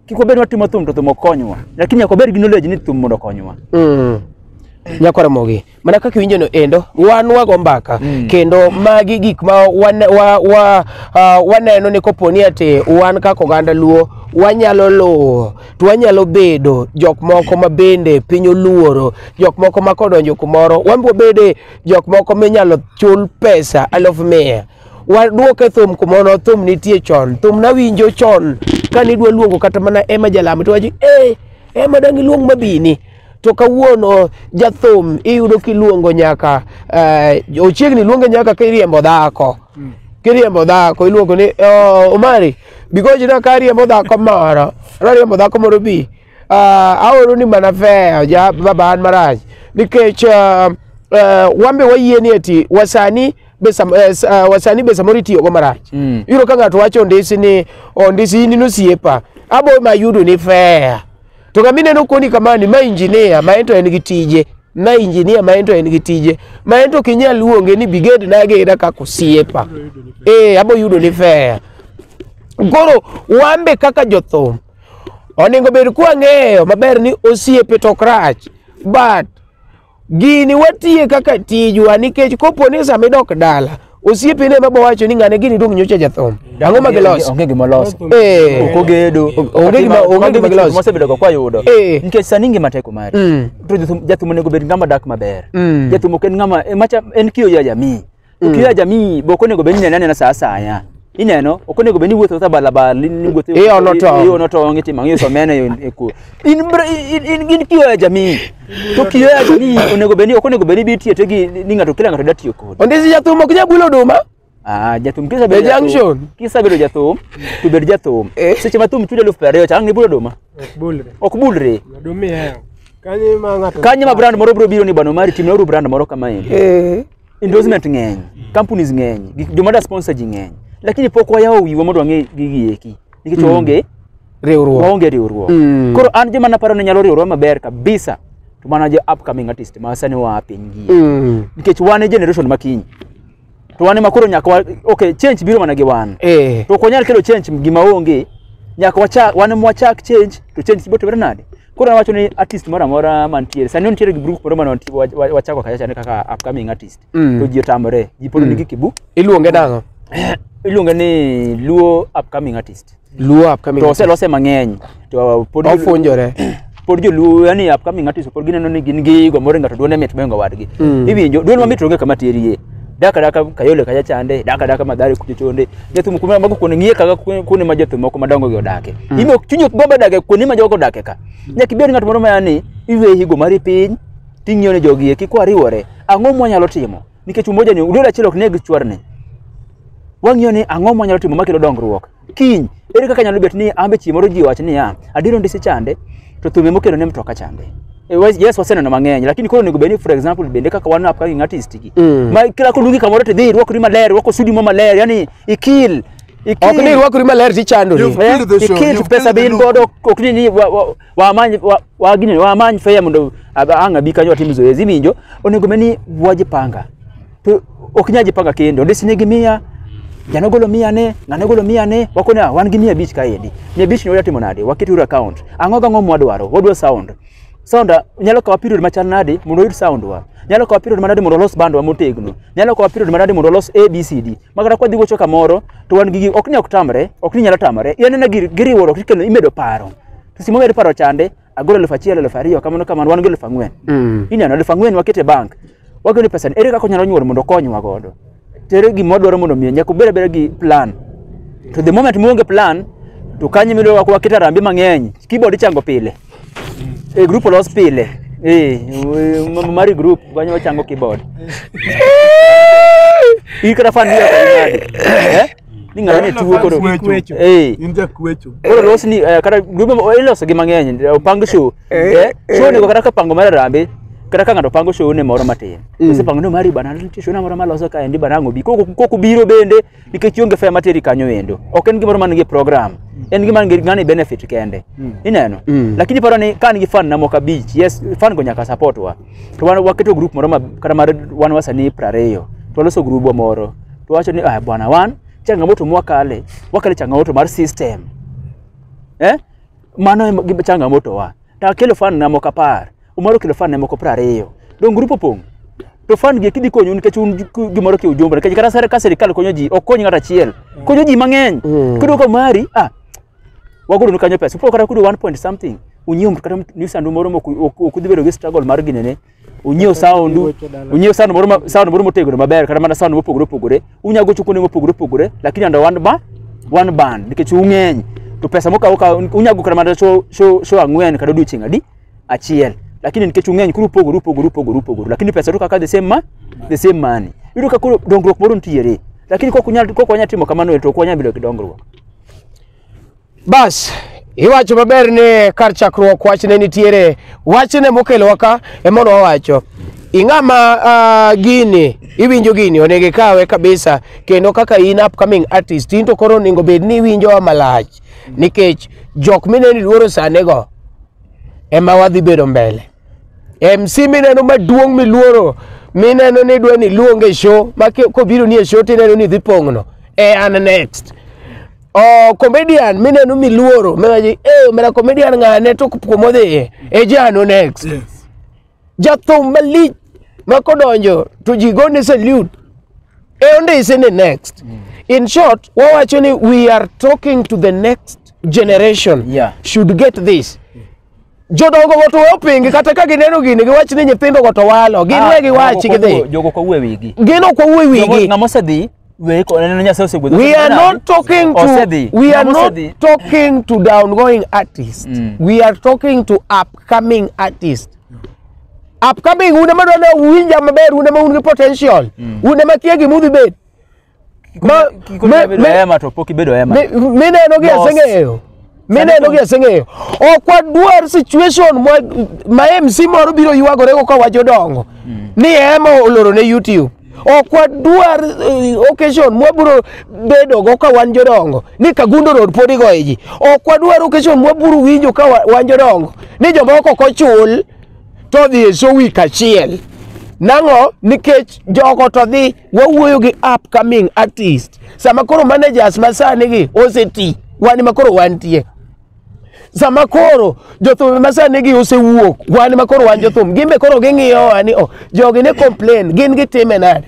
kik wabed watimo thum to thum ok konywa lakini nyaka wabed gi knowledge ni thum mondo okonywa Mm. nyako ramogi mana kaka iwinjono endo wan wago mbaka Mm. kendo magi gik ma wane- wa- wa- ah, waneno ni kopo ni ati wan kaka oganda luo wanyalo luwo to wanyalo bedo jok moko ma bende piny oluoro jok moko ma kodonjo kumoro wan wabede jok moko minyalo chul pesa aluf mia Wadwoke thum kumono, thum nitie chon. Thum nawinjo chon kane idwa luongo kata mana Emma Jalamo to wachi eh, Emma dang' iluong mabini. To kawuono jathum iyudo kiluongo nyaka eh, ochiegni luonge nyaka kiriembo dhako. Kiriembo dhako iluongo ni "Oh, Omari bigoji na kariembo dhako moro. Rariembo dhako moro bi. Ah, aoro ni mana fair ja baba an marach nikech ah, ah, wan be wayie ni eti wasani be sam- eh, s- ah, wasani be samoro itiyogo marach Mm. iyudo ka ng'ato wacho ondisi ni ondisi in inosiepa abo ma yudo ni fair to kama ineno koni kamani ma injinia ma en to en gi tije na injinia ma en to en gi tije ma en to kinyal luonge ni biged nageda kaka osiepa ee abo yudo ni fair koro wan be kaka jothum Onego bed kwa ng'eyo maber ni osiepe to ok rach. But gini watiye kaka tijwa nikech kopo ni sama idok dala osiepe ne mabo wacho ni ng'ane gini dong nyocha jathum. Ang'o ma gilos? Onge gima loso. Eh. Ok ogedo. Onge gima onge gima gilos. Mosebedo go kwayudo. Eh. Nikech sani ngima teko mari. Mm. To jathum- jathum onego bed ng'ama dak maber. Mm. Jathum ok en ng'ama e macha en kiyo ya jamii. Ukiwa jamii be ok onego obed ni inene anena sa asaya. Ineno, ok onego obed ni iwuotho awuotha balabala, ni ni iwuotho- Iono tong'. iono tong', itimo ang'o, iuso omena e- e ku- In br- in- in- in kiyo ya jamii. To kiyo ya jamii onego obed ni- ok onego obed ni ibi tiyo to gi- ni ng'ato kila ng'ato da tiyo kodi. Ondisi jathum ok nyal bulo oduma. Ah, jathum kisa The junction. Kisa bedo jathum, to bed jathum. Eh. Seche ma thum chudo elfu piero ariyo cha ang' nibulo oduma. Ok bulre. Ok bulre. Odumi heo. Kanyo ma ng'ato. Kanye ma brand moro bro biro ni bwana Omari timna uru brand moro kama yini. Eh. endorsement ng'eny companies ng'eny gik- joma da sponsor ji ng'eny lakini pok wayawo wiwa mondo wang'e gigi eki nikech waonge riwruok waonge riwruok Mm. koro an joma naparo ni nyalo riwruok maber kabisa to mana jo upcoming artist ma sani waa piny gi Mm. nikech wan e generation ma kiny to wan ema koro nyaka wa- okay change biro mana gi wan eh to ok wanyal kelo change gima onge nyaka wachak wan ema wachak change to change biro timore nade Koro awacho ni artist moro amora mantiere sani nitiere gi group moro mane wanti- wa- wa- wachako kacha chane kaka upcoming artist Mm. to ji otamore ji pod Mm. nigi kibu Iluonge nang'o? iluonge ni luo upcoming artist Luo upcoming. to oselose mang'eny to pod Ofunjore. pod joluo yani upcoming artist pod gineno ni gin gigo moro ng'ato duone mit moingo wadgi Mm. iwinjo duol mamit onge kama terie daka daka kayole kacha chande daka daka madhare kucho chonde jathum kuma mago kuone ng'iye kaka kuone kuone ma jathum moko madongo gi odake Mm. imo chunyo gomba dake kuone ma jogo odake ka nyaka ibed ng'at moro ma yani iwe higo mari piny ting'iyo ne jogi eki kwariwore ang'o mwanyalo timo nikech umoja ni udol achiel ok neg chwarne wang'iyo ni ang'o mwanyalo timo makelo dongruok kiny ere kaka nyalo bet ni ambe chieng' moro ji wach niya adiero ndisi chande to thume mokelo ne mtoka chande Eh, wa- yes waseneno mang'eny lakini koro onego bed ni for example bende kaka wan upcoming artist gi Mm. ma kila koluongi kamoro to dhi irwakori maler irwako sudi mo maler yani ikil ikil ok ni irwakori maler tichandori You've Eh, killed the show, ikil you've pesa killed the bin look. godo ok ni ni wa- wa- wamany wa- wagini wamany fea mondo ab- ang' abi kanyo watim zoezi iwinjo onego bed ni wajipanga to ok nyal jipanga kendo ndisi nigi mia jano golo mia ne ng'ano golo mia ne wakoni "Ah, wan gi mia abich kaendi mia abich ni watimo nade waket uru account ang'o gang'o mwadwaro wadwa sound sound ah, nyalo kawa period machal nade mondo oyud sound wa nyalo kawa period manade mondo olos bandwa motegno nyalo kawa period manade mondo olos abcd ma kata kwadhi gocho kamoro to wan gi gi- ok ni ok tamre ok ni nyalo tamre yan ena gir- giriwruok ikelo imedo paro to simo medo paro chande agolo elfu achiel elfu ariyo kamano kamano wan gi elfu ang'wen Mm. ineno elfu ang'wen wakete bank wagolo ni pesa ni ere kaka onyalo nyuol mondo okonywa godo to ere gima odwaro mondo omiye nyaka obed abeda gi plan to the moment muonge plan to kanye mido wakete arambe mang'eny keyboard ichango pile e group olos pile eh m- mari group wanyo wachango keyboard in kata fan ya kadi eh ni ng'ato ne tuwo koro Kwecho. eh In ja kwecho. koro los ni eh, kata group mo- iloso gi mang'eny eh, opang show eh show ni kata ka pango mar rambe kata ka ng'ato pango show ne moro matin ose pango no mari bana nitie show na moro maloso kaendi bana ng'obi koko koko biro bende nikech ionge fare materi kanyo endo ok en gimoro man gi program en gima ngi- ngani benefit kende ineno Mm. lakini paro ni ka an gi fan na moko abich yes fan go nyaka support wa to wan waketo group moro ma- kata mar wan wasanii prariyo to waloso grubwa moro to wacho ni ah, bwana wan changamoto mwakale wakale changamoto mar system eh mano ema gi changamoto wa to akelo fan na moko apar umaro kelo fan na moko piero ariyo dong grupo pong to fan gi kidhi konyo nikech un ku- gimoro ki ujumbe nikech kata sare ka sirikal konyo ji ok kony ng'ato achiel konyo ji mang'eny Mm. kudo ka mari ah wagolo ni kanyo pesa upo kata kudo 1 point something unyiew mtu kata mtu- ni sandu moro mok ok ok udhi bedo gi struggle mar ginene unyiew sound Weche dala. unyiew sound moro ma- sound moro motegno maber kata mana sound mopogore opogore unya gocho kuonde mopogore opogore lakini under one ba one band nikech ung'eny to pesa mokawo ka unya go kata mana show show show ang'wen kata odiochieng' adi achiel lakini nikech ung'eny koro upogore upogore upogore upogore lakini pesa to kaka the same ma the same money yudo ka koro dongruok moro nitiere lakini kok unyal kok wanya timo kamano to ok wanya bedo gi dongruok Bas, iwacho maber ni kar chakruok wach ne nitiere. Wach ne mokelowa ka emono wawacho. Ing'ama uh, gini, iwinjo gini, onego ikawe kabisa. Kendo kaka in upcoming artist, in to koro onego bed ni iwinjo malach. Nikech jok mineni luoro sane go, ema wadhi bedo mbele. MC mineno maduong' miluoro, mineno ni dwa ni luonge show, ma ki- kobiro ni e show tineno ni dhi pong'no. E an next. Oh, comedian mineno miluoro miwaji eh omera comedian ng'ane to kuma odhiye e jano next Yes. jathum malich ma kodonjo to ji gone salute e ondise ni next in short wawacho ni we are talking to the next generation Yeah. should get this Jodongo go to we opingi kata ka gineno gini giwach ni nyithindo go to walo. Gin we giwachi gidhi. Jogo ko we wigi. Gin ok owuo wigi. Jogo ng'ama osedhi we ko neno Nyasaye osegwedho. We are not talking to osedhi. we are Ng'ama not osedhi. talking to downgoing artists. Mm. We are talking to upcoming artists. Upcoming un ema dwani uwinja maber un ema un gi potential. Un ema kia gima udhi bet. Ma- Kiko me- bedo me- hema to pok ibedo hema. Mi- mineno gi Boss. aseng'eyo mineno gi aseng'eyo ok wadwar situation ma- ma mc moro biro ywagorego ka wacho dongo ni ema oloro ne youtube ok wadwar eh, occasion mwabiro bedogo ka wan jodongo ni kagundo road pod igoye ji ok wadwar occasion mwabiro winjo ka wa- wan jodongo ni jomoko ok ochul to dhi e show week achiel nang'o nikech jogo to dhi wawuoyo gi upcoming artist sama koro managers masani gi oseti wan ma koro wantie sama koro jothum masani gi osewuok wan ma koro wan jothum gin be koro ging'iyo wa ni o jogi ne complain gin gitime nade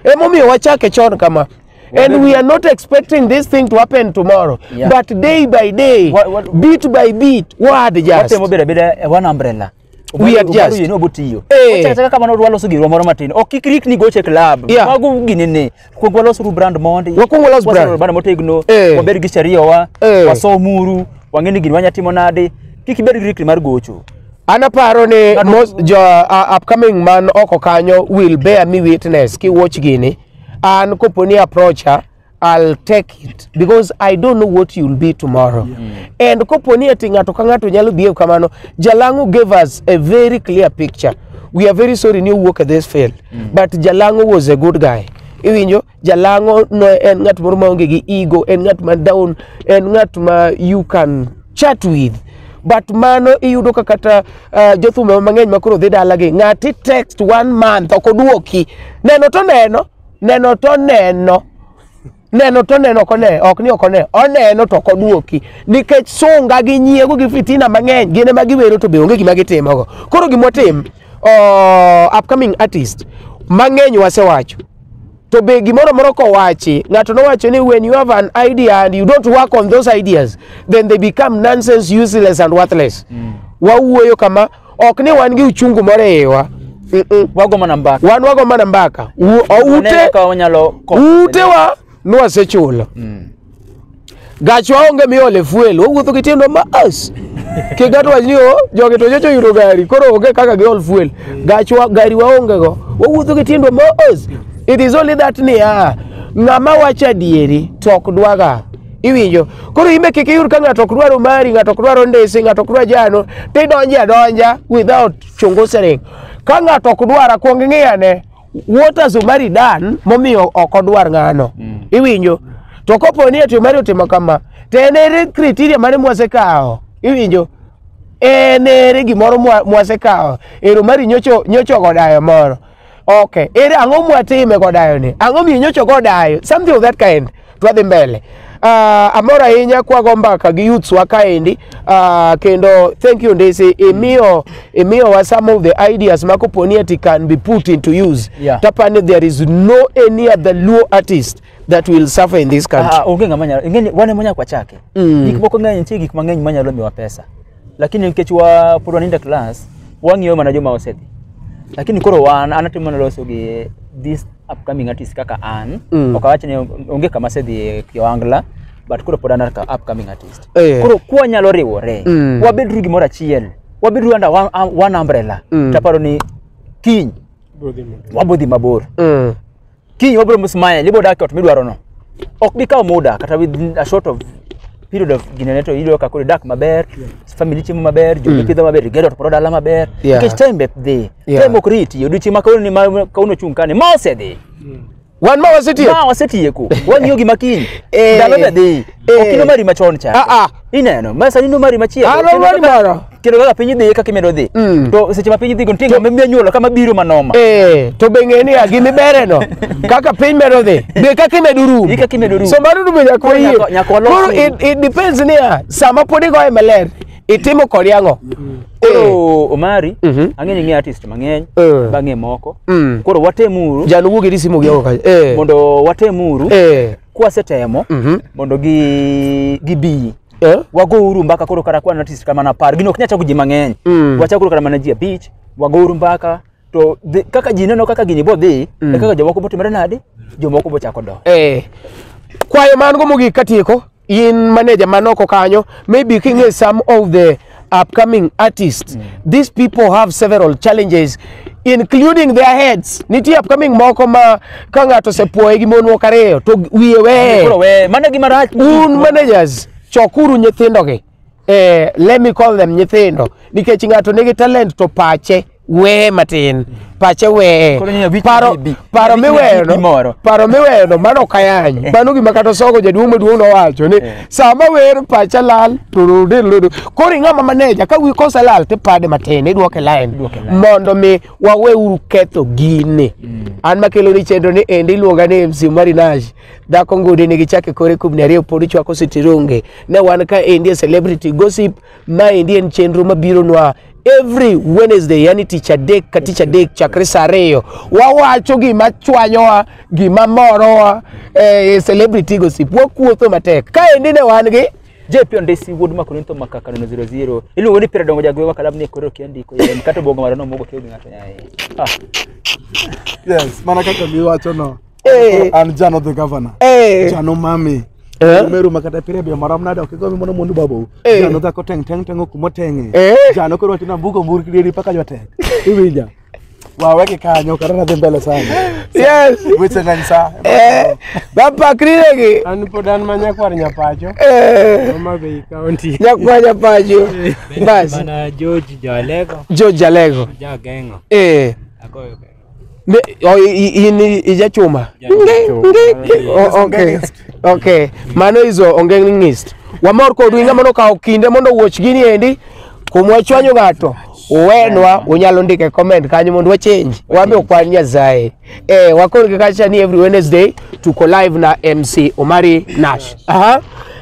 emomiyo wachake chon kama and we are not expecting this thing to happen tomorrow Yeah. but day by day What- what- bit by bit wad just watemo bedo abeda e one umbrella We are just. Yeno botiyo. Eh. Ocha kata kamano odwa loso giro moro matin. Ok kik rikni goche club. Yeah. Mago gini ne. Kuong walos ru brand mondi. Wakuong walos brand. Walos brand motegno. Eh. Waber gi sharia wa. Eh. Wasomuru. Wang'e ni gini wanya timo nade. Kik ibed gi rikni mar gocho. An aparo ni Kado- most jo uh, upcoming man oko kanyo will bear me witness ki watch gini. An koponi approacha I'll take it because I don't know what you'll be tomorrow. And kopo ni ati ng'ato ka ng'ato nyalo behave kamano, Jalango gave us a very clear picture. We are very sorry ni owuok e this field, but Jalango was a good guy. Iwinjo, Jalango no en ng'at moro maonge gi ego, en ng'at ma down, en ng'at ma you can chat with. But mano iyudo ka kata uh, jothumbe mang'eny ma koro dhi dalagi, ng'ati text one month ok oduoki. Neno to neno, neno to neno neno to neno ok one ok ni ok one oneno to ok oduoki nikech sunga gi nyiego gi fitina mang'eny gin ema giwero to be onge gima gitimogo koro gima otim oh, upcoming artist mang'eny wasewacho to be gimoro moro kowachi ng'ato nowacho ni when you have an idea and you don't work on those ideas then they become nonsense useless and worthless wawuoyo kama ok ni wan gi uchungu moro e iwa Mm, mm. wago mana mbaka wan wago mana mbaka U- o- Waneno ute kaka wanyalo konyo. utewa nwasechulo Mm. gachwa onge miole fuel wawuotho gi tiendwa mas kigato wach ni o jogi to nyocha oyudo gari koro onge kaka giol fuel gachwa gari waongego wawuotho gi tiendwa mas it is only that niya ng'ama wacho adieri to ok dwaga Iwinjo? Koro imbe kik iyud ka ng'ato ok dwar omari, ng'ato ok dwar ondesi, ng'ato ok dwar jano, to idonjo adonja without chongosering. Ka ng'ato ok dwar akwong ing'iyane, what has Omari done momiyo ok odwar ng'ano? Iwinjo? To kopo ni ati Omari otimo kama, to en ere criteria mane mwasekawo? Iwinjo? En ere gimoro mwa- mwasekawo? Ero Omari nyocho nyocho godayo moro. Okay, ere ang'o mwatime godayo ni? Ang'o minyocho godayo? Something of that kind. Twadhi mbele. Uh, amor ahinya kwago mbaka gi youths wa kaendi uh, kendo thank you Ndisi imiyo imiyo wa some of the ideas ma koponi ati can be put into use Yeah. tapani there is no any other Luo artist that will suffer in this country Ah, onge ng'ama nyalo ingeni wane monya kwa chake Mm. gik moko ng'eny nitie gik mang'eny manyalo miwa pesa lakini nikech wa pod wanindo e class wang'iyo mana joma osedhi lakini koro wan an atimo mana loso gi this upcoming artist kaka an Mm. ok awach ni onge kama asedhi e kiwangla but koro pod an ka upcoming artist Eh. koro kwanyalo riwore Mm. wabedru gimoro achiel wabedru under one, um, one umbrella Mm. taparo ni kiny wabodhi mabor Mm. kiny wabro msmile ibo dak ot midwaro no ok bi kawo muda kata within a short of period of ginene to iyudo ka koro idak maber family chiemo maber jogi Mm. pidho maber igedo to koro dala maber Yeah. nikech time be dhi Yeah. time ok riti odiochieng' ma kawuono ni ma kawuono chung' kani ma osedhi wan ma wasetie ma wasetieko wang'iyo gima kiny Eh. ndalo be dhi Eh. ok inomari machon cha Ah, ah. ineno ma sani inomari machielo Ah, no, Kendo mari kaka- moro. kendo kaka piny dhiye kaka imedo dhi Mm. to seche ma piny dhigo nitie ng'ama miya nyuolo kama biro manoma Eh, to be ng'e niya gimibere no kaka piny medo dhi be kaka imedo rum Gi kaka imedo rum. so mano dume nyaka Koro wayie nyaka- nyaka walos koro rum. it, it depends niya sama pod igoye maler itimo kod yang'o koro omari Mhm. ang'eny ng'e artist mang'eny Eh. bang'e moko Mm. koro watemuru jan wuogi ni simo gi oko kanyo eh mondo watemuru eh kwasetemo Mhm. mondo gi gibi Eh? wago uru mbaka koro kata kwan artist kama na par gino ok nyal chako ji mang'eny Mm. wachako koro kata mana ji abich wago uru mbaka to dhi- kaka ji neno kaka gini bodhi e kaka jomoko botimore nadi jomoko bochako do Eh, kwayo man go mogik katieko in maneja man oko kanyo maybe king'e some of the upcoming artists these people have several challenges including their heads nitie upcoming moko ma ka ng'ato osepuoye gi mon moko ariyo to wiye weye Koro we mano gima rach. un managers chokuru nyithindogi eh, let me call them nyithindo nikech ng'ato nigi talent to pache weye matin pache weye Koro nyanya wich paro bibi. paro Wich miweyo bibi no moro. paro miweyo no mano kayanyo mano gima kata sogo jaduong' maduong' nowacho ni sama wer pacha lal to rode lodo koro ing'ama maneja ka wi kose lal tipade matin idwoke line Idwoke line. mondo mi waweuru ketho gini an makelo ni chenro ni endi iluonga ni MC Omari Nash dhako ngudi ni gichake kore kubni ariyo pod ichwako sitironge ne wan ka endi e celebrity gossip Maendi en chenro mabironwa every Wednesday, yani tich adek ka tich adek chakre saa ariyo. Wawacho gima chwanyowa, gima morowa, eh, celebrity gossip. Wakuotho matek. Kaendi ne wan gi JP Ondesi wuod Makunito Makaka nono 00. Iluongo ni Pira Dongo Jagwewa kalamu ni koro kiandiko yem kata obongo mara nomogo kio gi ng'ato nyaye. Ah, Yes, mana kaka miwacho no. Eh. an jano the governor Eh. jano mami Eh. meru makata pire bia marom nade ok igomi mono mundu babu Eh. jano dhako teng teng teng okumo tenge Eh. jano koro watina mbugo mbur kidiri paka jotek iwinja waweke kanyo kata nadhi mbele sana yes weche ng'eny sa eh bapakriregi An pod an ma nyakwar nyapacho, eh Homa Bay County. nyakwanya pacho bas Mana George Jalego, jojalego jageng'o. eh Agoyo Ne, oh, i- i- in i- ijachuma Oh, okay. okay mano izo ongeng'ist wamor kodu inga mondo kawo kinde mondo wuoch gini endi kumwa chwanyo ng'ato uwenwa unyalo ndike comment kanyo mondo wachange wambe ukwan nyasaye eh, wakon gi kacha ni every wednesday tuko live na mc omari nash Aha.